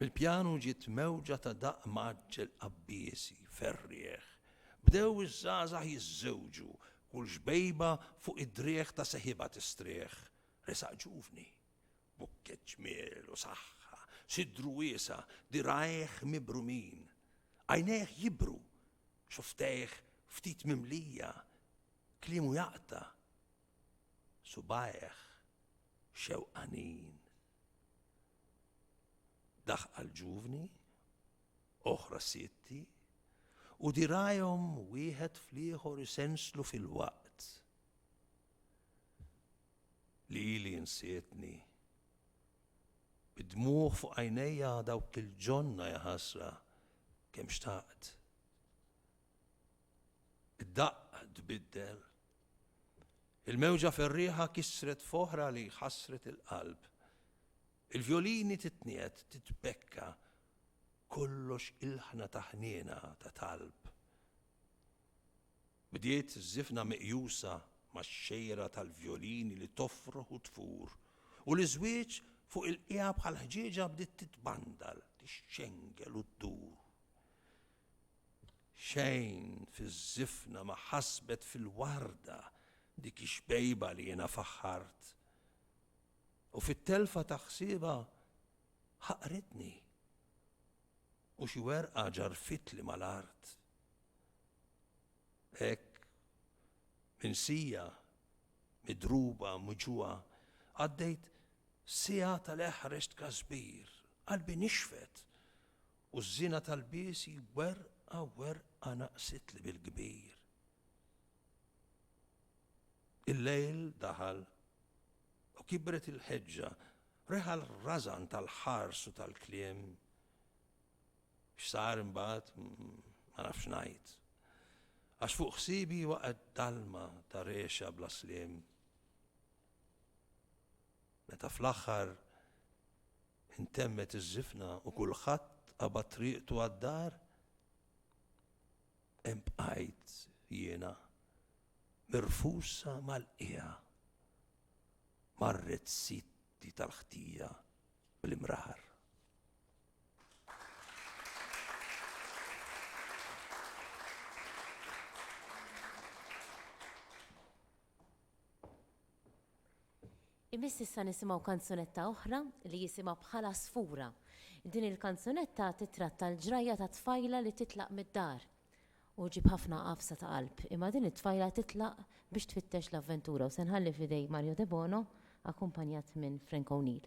Mill-pjanu ġiet mewġa ta' daqq mgħaġġel qabbiesi, ferrieħ. Bdew iż-żgħażagħ jiżżewġu, kull xbejba fuq id-driegħ ta' seħibha tistrieħ. Resaq ġuvni, bukkett ġmiel u saħħa, sidru wiesa', dirgħajh mibrumin. Għajnejh jibru, xufftejh ftit mimlija, kliemu jaqta'. subgħajh xewqanin, daħqa l-ġuvni, oħra sietti, u dirgħajhom wieħed fl-ieħor isenslu filwaqt li ili insietni. Bid-dmugħ fuq għajnejja dawk il-ġonna jaħasra kemm xtaqt. Id-daqq tbiddel Il-mewġa ferrieħa kissret f'oħra li ħassret il-qalb. Il-vjolini titniet, titbekka, kollox ilħna ta' ħniena, ta' talb. Bdiet żifna meqjusa max-xejra tal-vjolini li tofroħ u tfur, u l-iżwieġ fuq il-qiegħa bħal ħġieġa bdiet titbandal, tixxengel u ddur. Xejn fiż-żifna ma ħasbet fil-warda dik ix-xbejba li jiena faħħart. U fit-telfa ta' ħsiebha ħaqritni. U xi werqa ġarrfitli mal-art. Hekk minsija, midruba, muġuha, għaddejt siegħa tal-eħrex tkasbir, qalbi nixfet U ż-żiena tal-biesi werqa werqa naqsitli bil-kbir. Il-lejl daħal u kibret il-ħeġġa, reħa l-rażan tal-ħars u tal-kliem. X'sar imbagħad ma nafx ngħid. Għax fuq ħsiebi waqgħet dalma ta' rexha bla sliem. Meta fl-aħħar intemmet iż-żifna u kulħadd qabad triqtu għad-dar, hemm bqajt jiena, mirfusa mal-qiegħa, marret sidti tal-ħtija bl-imrar. Imiss issa nisimgħu kanzunetta oħra li jisimha Bħal-Għasfura. Din il-kanzunetta tittratta l-ġrajja ta' tfajla li titlaq mid-dar. U ġġib ħafna għafsa ta' qalb. Imma din it-tfajla titlaq biex tfittex l-avventura u se nħalli f'idej Mario Debono akkumpanjat minn Frank O'Neill.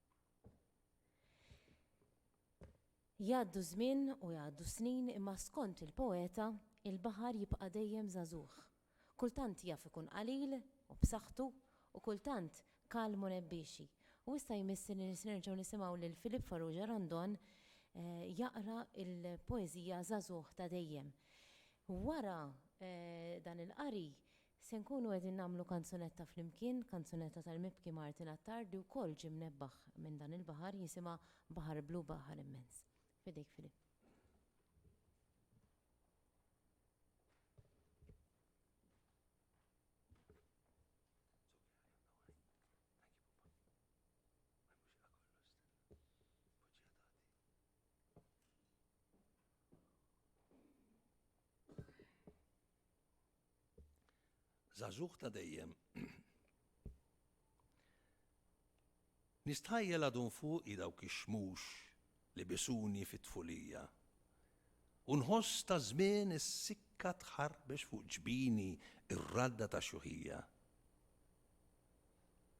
Jgħaddu ż-żmien u jgħaddu s-snin imma skont il-poeta, il-baħar jibqa' dejjem żagħżugħ. Kultant jaf ikun qalil u b'saħħtu u kultant kalm u nebbiexi. U issa jmiss li nerġgħu nisimgħu lil Philippe Farrugia Randon jaqra l-poeżija Żagħżugħ ta' dejjem. Wara dan il-qari Se nkunu qegħdin nagħmlu kanzunetta flimkien, kanzunetta tal-mibki Martin Attard li wkoll ġie mnebbaħ minn dan il-baħar, jisimha Baħar Blu Baħar Immens. F'idejk Philip. Żagħżugħ ta' dejjem. Nistħajjel għadhom fuqi dawk ix-xmux li bisuni fit-tfulija, u nħoss taż-żmien is-sikka tħarbex fuq ġbini r-radda tax-xjuħija.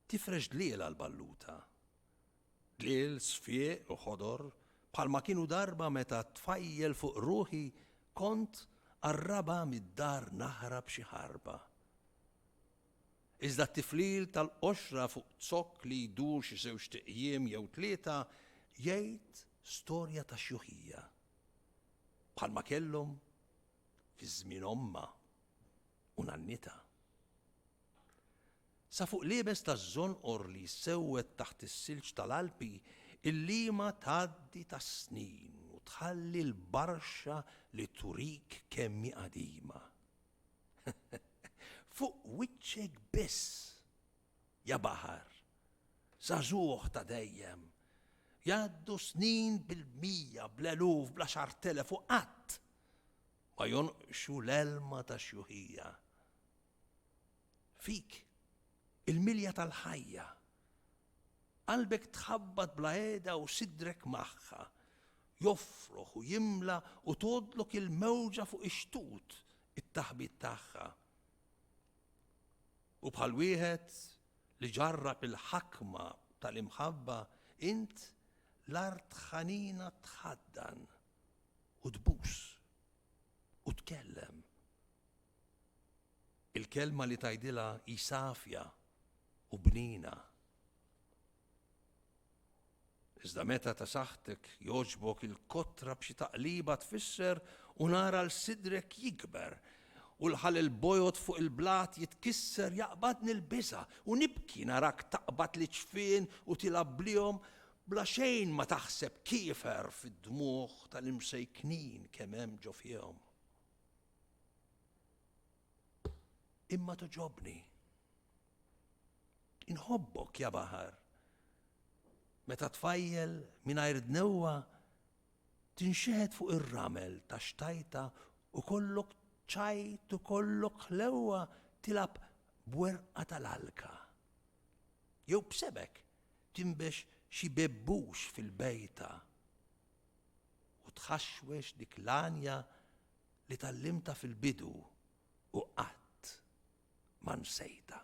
Tifrex dliel għall-balluta. Dliel sfieq u ħodor bħalma kienu darba meta tfajjel fuq ruħi kont qarrabha mid-dar naħrab xi ħarba. Iżda t-tiflil tal-qoxra fuq zokk li jdur xi żewġt iqjiem jew tlieta jgħid storja ta' xjuħija. Bħalma kellhom fi żmien ommha u nannitha. Sa fuq l-iebes taż-żonqor li jsewwed taħt is-silġ tal-Alpi, il-lima tgħaddi tas-snin u tħalli l-barxa li turik kemm hi qadima. Fuq wiċċek biss, ja baħar, żagħżugħ ta' dejjem, jgħaddu snin bil-mija, bl-eluf, bl-għaxartelef u qatt ma jonqsu l-għelma tax-xjuħija. Fik, il-milja tal-ħajja. Qalbek tħabbat bla għeda u sidrek magħha. Joffroħ u jimla u tgħoddlok il-mewġa fuq ix-xtut it-taħbit tagħha. U bħal wieħed li ġarrab il-ħakma tal-imħabba int l-art ħanina tħaddan u tbus u tkellem Il-kelma li tgħidilha hi safja u bnina. Iżda meta ta' saħħtek jogħġbok il-kotra b'xi taqliba tfisser u nar għal sidrek jikber u l-ħalel bojod fuq il-blat jitkisser jaqbadni l-biża' u nibki narak taqbad l-iġfien u tilgħab bliehom bla xejn ma taħseb kiefer fid-dmugħ tal-imsejknin kemm hemm ġo fihom. Imma toġobni. Inħobbok ja baħar. Meta tfajjel mingħajr dnewwa tinxeħet fuq ir-ramel ta' xtajta u kollok ċajt u kollok ħlewwa tilab bwerqa tal-alka. Jew b'sebek timbex xi bebbux fil-bejta u tħaxwex dik l-għanja li tgħallimtha fil-bidu u qatt ma nsejtha.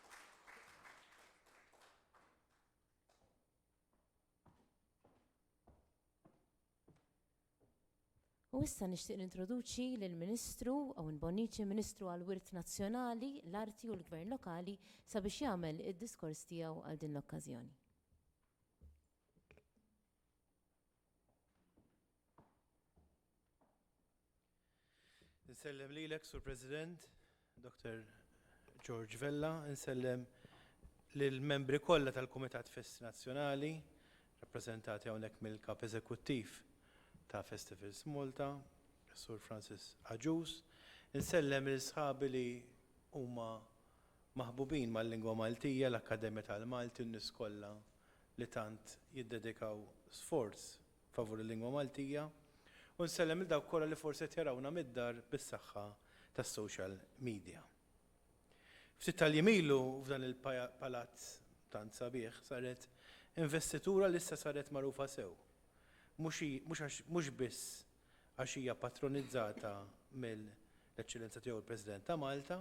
U issa nixtieq nintroduċi lill ministru Owen Bonnici, Ministru għal Wirt Nazzjonali, l-Arti u l-Gvern Lokali sabiex jagħmel id-diskors tiegħu għal din l-okkażjoni. Nsellem lilek, Sur President, Dr. George Vella, nsellem lill-membri kollha tal-Kumitat Festi Nazzjonali, rappreżentati hawnhekk mill-Kap Eżekuttiv ta' Festivals Malta, Sur Francis Aġus, nsellem lil sħabi li huma maħbubin mal-lingwa Maltija, l-Akkademja tal-Malti u n-nies kollha li tant jiddedikaw sforz favur il-lingwa Maltija u nsellem lil dawk kollha li forsi qed jarawna mid-dar bis-saħħa tas-social media. Ftit tal-jiem ilu f'dan il-palazz tant sabiħ saret investitura li issa saret magħrufa sew, mhux biss għax hija patronizzata mill-Eċċellenza Tiegħu l-President ta' Malta,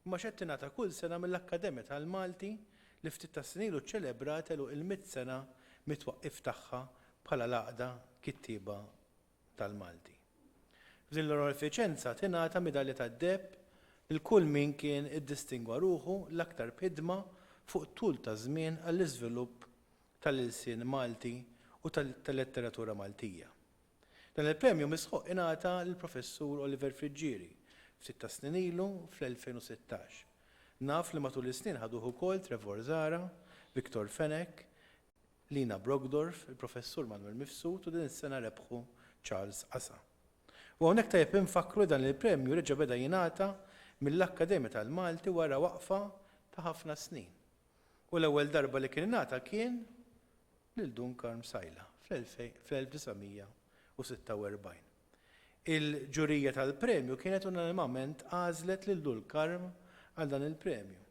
imma għax qed tingħata kull sena mill-Akkademja tal-Malti li ftit tas-snin ilu ċċelebrat għeluq il-mitt sena mit-twaqqif tagħha bħala l-Għaqda Kittieba tal-Malti. F'din l-onorifiċenza tingħata Midalja tad-Deheb lil kull min kien iddistingwa ruħu l-aktar b'ħidma fuq tul ta' żmien għall-iżvilupp tal-ilsien Malti u tal-letteratura Maltija. Dan il-premju misħuq ingħata lill-Professur Oliver Friggieri ftit tas-snin ilu fl-2016. Naf li matul is-snin ħaduh ukoll Trevor Zahra, Victor Fenech, Lina Brockdorff, il-Professur Manwel Mifsud u din is-sena rebħu Charles Casa. U hawnhekk tajjeb infakkru li dan il-premju reġa' beda jingħata mill-Akkademja tal-Malti wara waqfa ta' ħafna snin. U l-ewwel darba li kien ingħata kien lil Dun Karm Sajla fl-1946. Il-ġurija tal-premju kienet unanimament għażlet lil Dun Karm għal dan il-premju,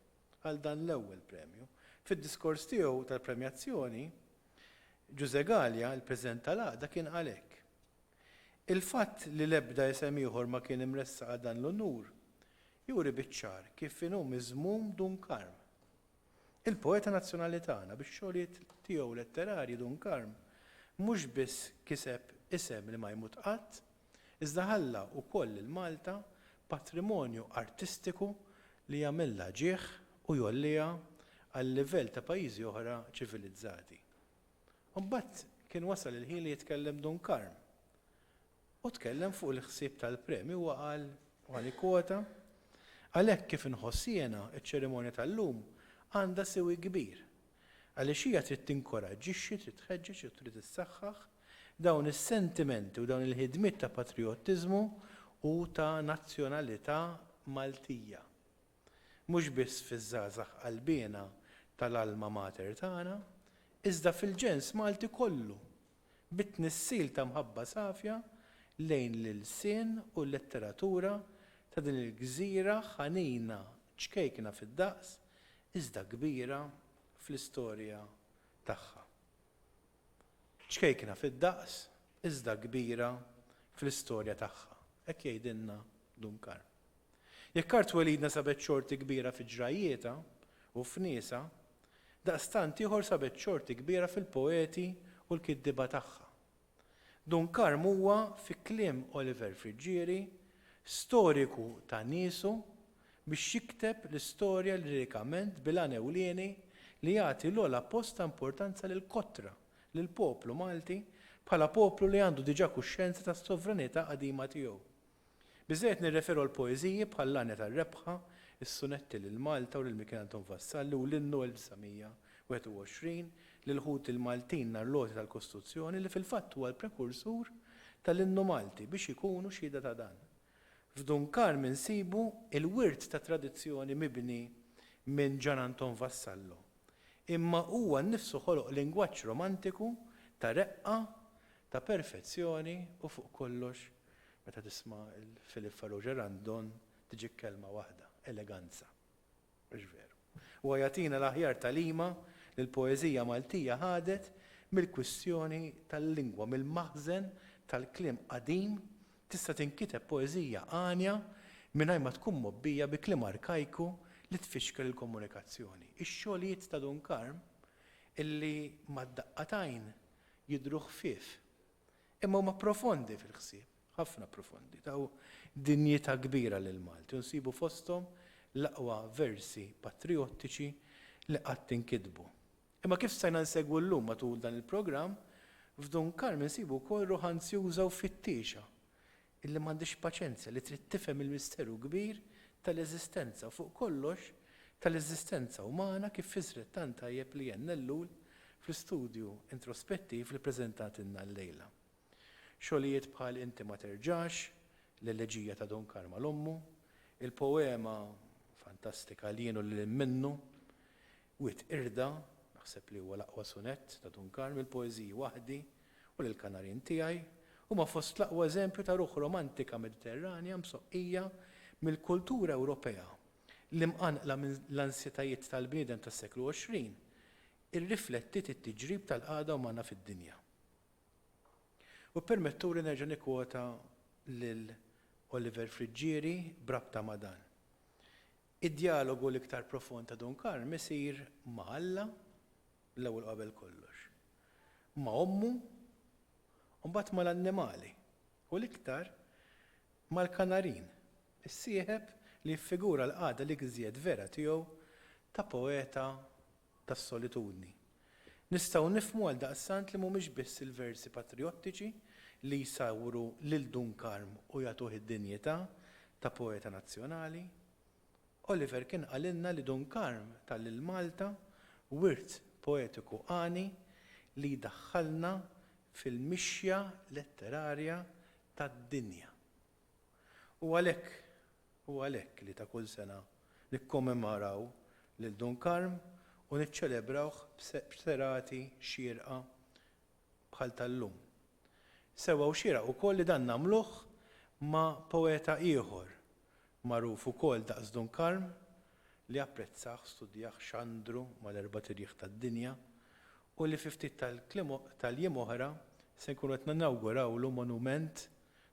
għal dan l-ewwel premju. Fid-diskors tiegħu tal-premjazzjoni, Ġużè Galea, il-President tal-Għaqda, kien qal hekk, Il-fatt li l-ebda isem ieħor ma kien imressaq għal dan l-unur juri biċ-ċar kif inhu miżmum Dun Karm. il-poeta nazzjonali tagħna, bix-xogħlijiet tiegħu letterarji Dun Karm mhux biss kiseb isem li ma jmut qatt, iżda ħalla wkoll lil Malta patrimonju artistiku li jagħmilha ġieħ u jgħolliha għal-livell ta' pajjiżi oħra ċivilizzati. Imbagħad kien wasal il-ħin li jitkellem Dun Karm u tkellem fuq il-ħsieb tal-premju huwa qal, u ħa nikkwota, Għalhekk kif inħoss jiena, iċ-ċerimonja tal-lum għandha siwi kbir, għaliex hija trid tinkoraġġixxi, trid tħeġġeġ u trid issaħħaħ dawn is-sentimenti u dawn il-ħidmiet ta' patrijottiżmu u ta' nazzjonalità Maltija. mhux biss fiż-żgħażagħ qalbiena tal-Alma Mater tagħna, iżda fil-ġens Malti kollu, bi tnissil ta' mħabba safja lejn l-ilsien u l-letteratura ta' din il-gżira ħanina ċkejkna fid-daqs iżda kbira fl-istorja tagħha. Ċkejkna fid-daqs iżda kbira fl-istorja tagħha, hekk jgħidilna Dun Karm. Jekk art welidna sabet xorti kbira fi ġrajjietha u f'niesha, daqstant ieħor sabet xorti kbira fil-poeti u l-kittieba tagħha. Dun Karm huwa, fi kliem Oliver Friggieri, storiku ta' niesu biex jikteb l-istorja lirikament bil-għan ewlieni li jagħti l-ogħla post ta' importanza lill-kotra, lill-poplu Malti bħala poplu li għandu diġà kuxjenza tas-sovranità qadima tiegħu. Biżżejjed nirreferu għal poeżiji bħal L-Għanja tar-Rebħa, Is-Sunetti lil Malta u lil Mikiel Anton Vassalli u l-Innu 1921, L-Ilħut il-Maltin nhar l-għoti tal-Kostuzzjoni li fil-fatt huwa l-prekursur tal-Innu Malti biex ikunu xhieda ta' dan. F'Dun Karm insibu l-wirt ta' tradizzjoni mibni minn Ġan Anton Vassallo. Imma huwa nnifsu ħoloq lingwaġġ romantiku ta' reqqa, ta' perfezzjoni u fuq kollox Meta tisma' lil Philippe Farrugia Randon tiġik kelma waħda, eleganza. Mhux veru? Huwa jagħtina l-aħjar tagħlima li l-poeżija Maltija ħadet mill-kwistjoni tal-lingwa, mill-maħżen tal-kliem qadim, tista' tinkiteb poeżija għanja mingħajr ma tkun mgħobbija bi kliem arkajku li tfixkel il-komunikazzjoni. Ix-xogħlijiet ta' Dun Karm, illi mad-daqqa t'għajn jidhru ħfief, Imma huma profondi fil-ħsieb, ħafna profondi. Taw dinjità kbira lill-Malti u nsibu fosthom l-aqwa versi patrijottiċi li qatt inkitbu. Imma kif stajna nsegwu llum matul dan il-programm, f'Dun Karm insibu wkoll ruħ anzjuża u fittiexa Illi m'għandhiex paċenzja, li trid tifhem il-misteru kbir tal-eżistenza u fuq kollox tal-eżistenza umana kif fissret tant tajjeb Leanne Ellul fl-istudju introspettiv li ppreżentatilna llejla. Xogħlijiet bħal Inti ma terġax, l-Eleġija ta' Don Karma l-Ommu, il-poema fantastika L-Jien u Lilhinn Minnu, Wied Qirda, naħseb li huwa l-aqwa sunett ta' Dun Karm, il-poeżiji Waħdi, u lill-Kanarien tiegħi, huma fost l-aqwa eżempju ta' ruħ romantika Mediterranja msoqqija mill-kultura Ewropea li mqanqla minn l-ansjetajiet tal-bniedem tas-seklu 20 irriflettiet it-tiġrib tal-qagħda umana fid-dinja. U ppermettuli nerġa' nikkwota lil Oliver Friggieri b'rabta ma' dan, Id-djalogu l-iktar profond ta' Dun Karm isir ma' Alla l-ewwel u qabel kollox, ma' ommu u mbagħad mal-annimali, u l-iktar mal-kanarin, is-sieħeb li jiffigura l-qagħda l-iżjed vera tiegħu ta' poeta tas-solitudni. Nistgħu nifhmu għaldaqstant li mhumiex biss il-versi patrijottiċi li jsawru lil Dun Karm u jagħtuh id-dinjità ta' poeta nazzjonali. Oliver kien qalilna li Dun Karm ta lil Malta wirt poetiku għani li jdaħħalna fil-mixja letterarja tad-dinja. U għalhekk Hu għalhekk li ta' kull sena nikkommemoraw lil Dun Karm u niċċelebrawh b'serati xierqa bħal tal-lum. Sewwa hu xieraq ukoll li dan nagħmluh ma' poeta ieħor magħruf ukoll daqs Dun Karm li apprezzah, studjah, xandru mal-erbat irjieħ tad-dinja u li fi ftit tal-jiem oħra se nkunu qed ninawgurawlu monument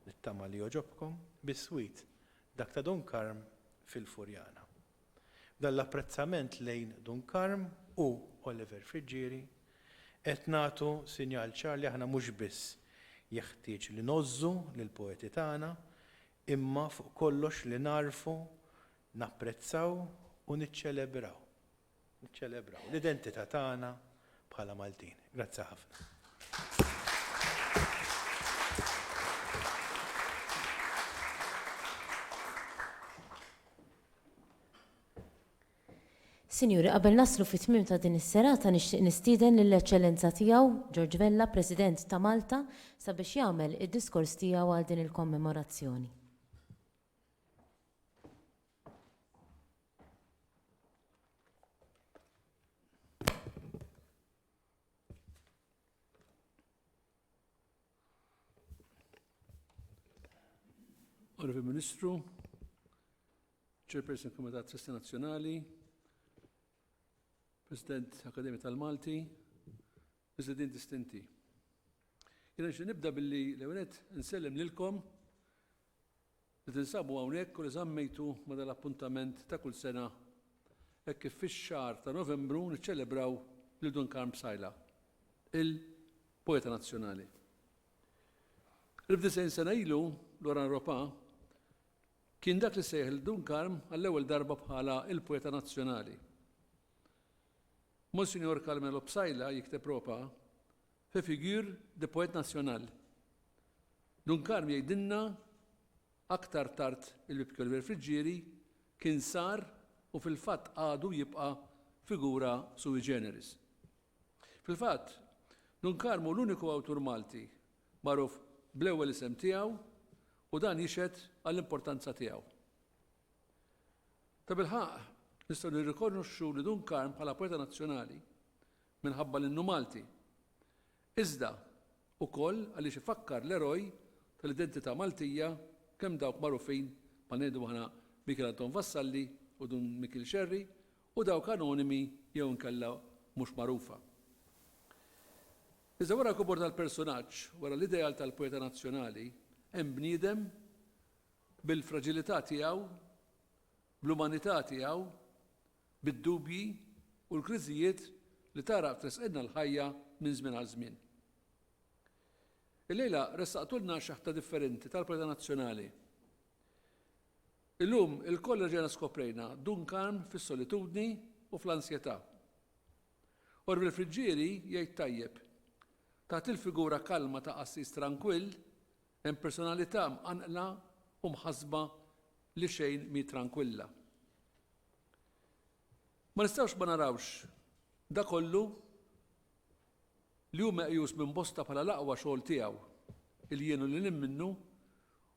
Nittama li jogħġobkom biswit dak ta' Dun Karm fil-Furjana. B'dan l-apprezzament lejn Dun Karm u Oliver Friggieri, qed nagħtu sinjal ċar li aħna mhux biss jeħtieġ li ngħożżu lill-poeti tagħna, imma fuq kollox li nagħrfu, napprezzaw u niċċelebraw Niċċelebraw l-identità tagħna bħala Maltin. Grazzi ħafna. Sinjuri, qabel naslu fit-tmiem ta' din is-serata nixtieq nistieden lill-Eċċellenza Tiegħu George Vella, President ta' Malta, sabiex jagħmel id-diskors tiegħu għal din il-kommemorazzjoni. Onorevoli Ministru, Chairperson Komitat Sesti Nazzjonali, President Akademija tal-Malti, President Distinti. Jena nibda billi l-ewenet nsellem lilkom Li tinsabu hawnhekk u li żammejtu ma' dal-appuntament ta' kull sena hekk kif fix-xahar ta' Novembru niċċelebraw lil Dun Karm Psaila, il-poeta nazzjonali. Elf disgħin sena ilu, Loran Ropà kien dak li sejjaħ lil Dun Karm għall-ewwel darba bħala il-poeta nazzjonali. Monsinjor Carmelo Psaila, jikteb Ropà, Fait figure de poète national. Dun Karm jgħidilna aktar tard il-Bib Kjoliver Friggieri kien sar u fil-fatt għadu jibqa' figura sui generis. Fil-fatt, Dun Karm hu l-uniku awtur Malti magħruf bl-ewwel isem tiegħu u dan jixhed għall-importanza tiegħu. Tabilħaqq, nistgħu nirrikonoxxu li Dun Karm bħala poeta nazzjonali minħabba li nhu Malti, iżda ukoll għaliex ifakkar l-eroj tal-identità Maltija kemm dawk magħrufin bħal ngħidu aħna Mikiel Anton Vassalli u Dun Mikiel Scerri u dawk anonimi jew inkella mhux magħrufa. Iżda wara l-kibur tal-persunaġġ, wara l-ideal tal-poeta nazzjonali, hemm bniedem bil-fraġilità tiegħu, bl-umanità tiegħu, bid-dubji u l-kriżijiet li tagħraq tresqilna l-ħajja minn żmien għal żmien. Illejla ressaqtulna xeħta differenti tal-preda nazzjonali. Illum ilkoll reġgħna skoprejna Dun Karm fis-solitudni u fl-ansjetà. Orville Friggieri jgħid tajjeb, Taħt il-figura kalma ta' qassis trankwill, Hemm personalità mqanqla u mħassba li xejn mhi trankwilla. Ma nistgħux ma narawx da kollu li hu meqjus minn bosta bħala l-aqwa xogħol tiegħu, il-jien u lilin minnu,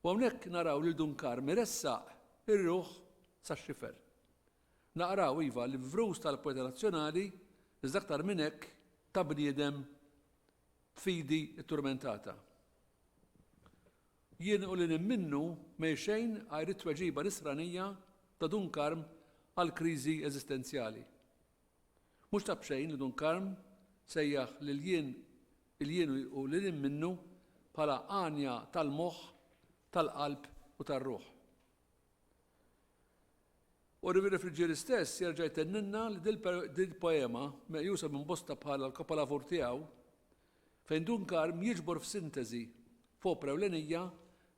u hawnhekk naraw lil Dun Karm iressaq ir-ruħ sax-xifer. Naqraw, iva, l-ivvrus tal-poeta nazzjonali, iżda aktar minn hekk ta' bniedem f'idi t-turmentata. Jien u lil hinn minnu ma hi xejn għajr it-tweġiba nisranija ta' Dun Karm għall-kriżi eżistenzjali. Mhux ta' b'xejn li Dun Karm sejjaħ lil jien, il-jien u lil hinn minnu bħala għanja tal-moħħ, tal-qalb u tar-ruħ. U Riviere Friggieri stess jerġa' jtenninna li dil-poema, meqjusa minn bosta bħalha l-kapolavur tiegħu, fejn Dun Karm jiġbor f'sinteżi, f'opra ewlenija,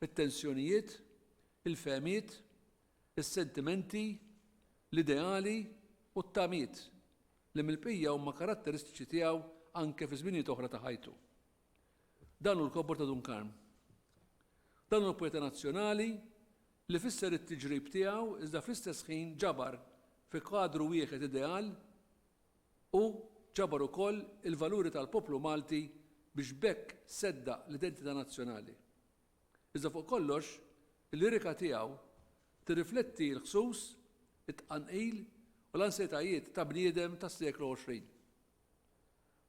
it-tensjonijiet, il-fehmiet, is-sentimenti, l-ideali u t-tamiet li mill-bqija huma karatteristiċi tiegħu anke fi żminijiet oħra ta' ħajtu. Dan hu l-kobor ta' Dun Karm. Dan hu l-poeta nazzjonali li fisser it-tiġrib tiegħu iżda fl-istess ħin ġabar fi kwadru wieħed ideal u ġabar ukoll il-valuri tal-poplu Malti biex b'hekk seddaq l-identità nazzjonali. Iżda fuq kollox, il-lirika tiegħu tirrifletti l-ħsus, it-tqanqil u l-ansjetajiet ta' bniedem tas-seklu 20.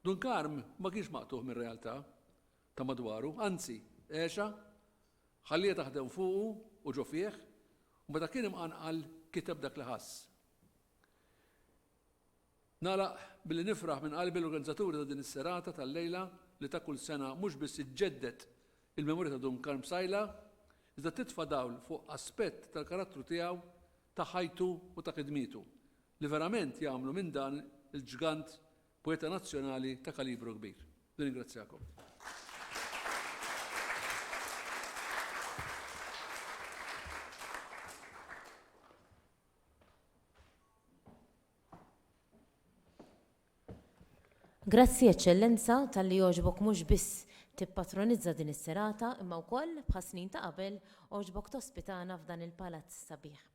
Dun Karm ma kienx maqtugħ mir-realtà ta' madwaru, anzi, għexha Ħalliha taħdem fuqu u ġo fih, u meta kien imqanqal kiteb dak li ħass. Nagħlaq billi nifraħ minn qalbi l-organizzaturi ta' din is-serata tal-lejla li ta' kull sena mhux biss iġġedded il-memorja ta' Dun Karm Psaila, iżda titfa' dawl fuq aspett tal-karattru tiegħu, ta' ħajtu u ta' ħidmietu, li verament jagħmlu minn dan il-ġgant Poeta nazzjonali ta' kalibru kbir. Nirringrazzjakom. Grazzi, Eċċellenza, talli għoġbok mhux biss tippatronizza din is-serata imma wkoll, bħas-snin ta' qabel, għoġbok tospitana f'dan il-palazz sabiħ.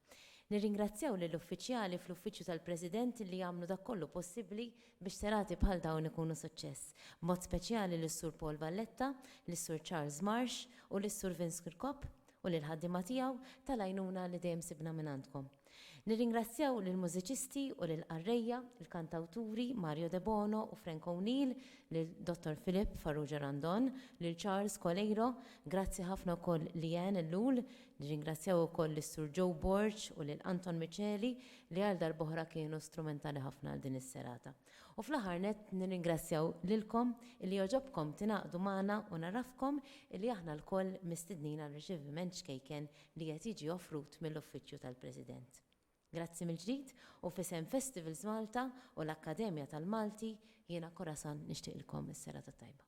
Nirringrazzjaw lill-uffiċjali fl-Uffiċċju tal-President li għamlu dak kollu possibbli biex serati bħal dawn ikunu suċċess, b'mod speċjali lis-Sur Paul Valletta, lis-Sur Charles Marsh u lis-Sur Vince Kirkop u lill-ħaddiema tiegħu tal-għajnuna li dejjem sibna mingħandkom. Nirringrazzjaw lill-mużiċisti u lill-qarrejja, il-kantawturi Mario Debono u Frank O'Neill, lil Dottor Philip Farrugia Randon, lil Charles Coleiro, grazzi ħafna wkoll Leanne Ellul, Nirringrazzjaw ukoll lis-Sur Joe Borg u lil Anton Miceli li għal darb'oħra kienu strumentali ħafna għal din is-serata. U fl-aħħar nett nirringrazzjaw lilkom illi jogħġobkom tingħaqdu magħna u ngħarrafkom illi aħna lkoll mistednin għal riċeviment ċkejken li qed jiġi offrut mill-Uffiċċju tal-President. Grazzi mill-ġdid u f'isem Festivals Malta u l-Akkademja tal-Malti jiena Corazon nixtieqilkom is-serata t-tajba.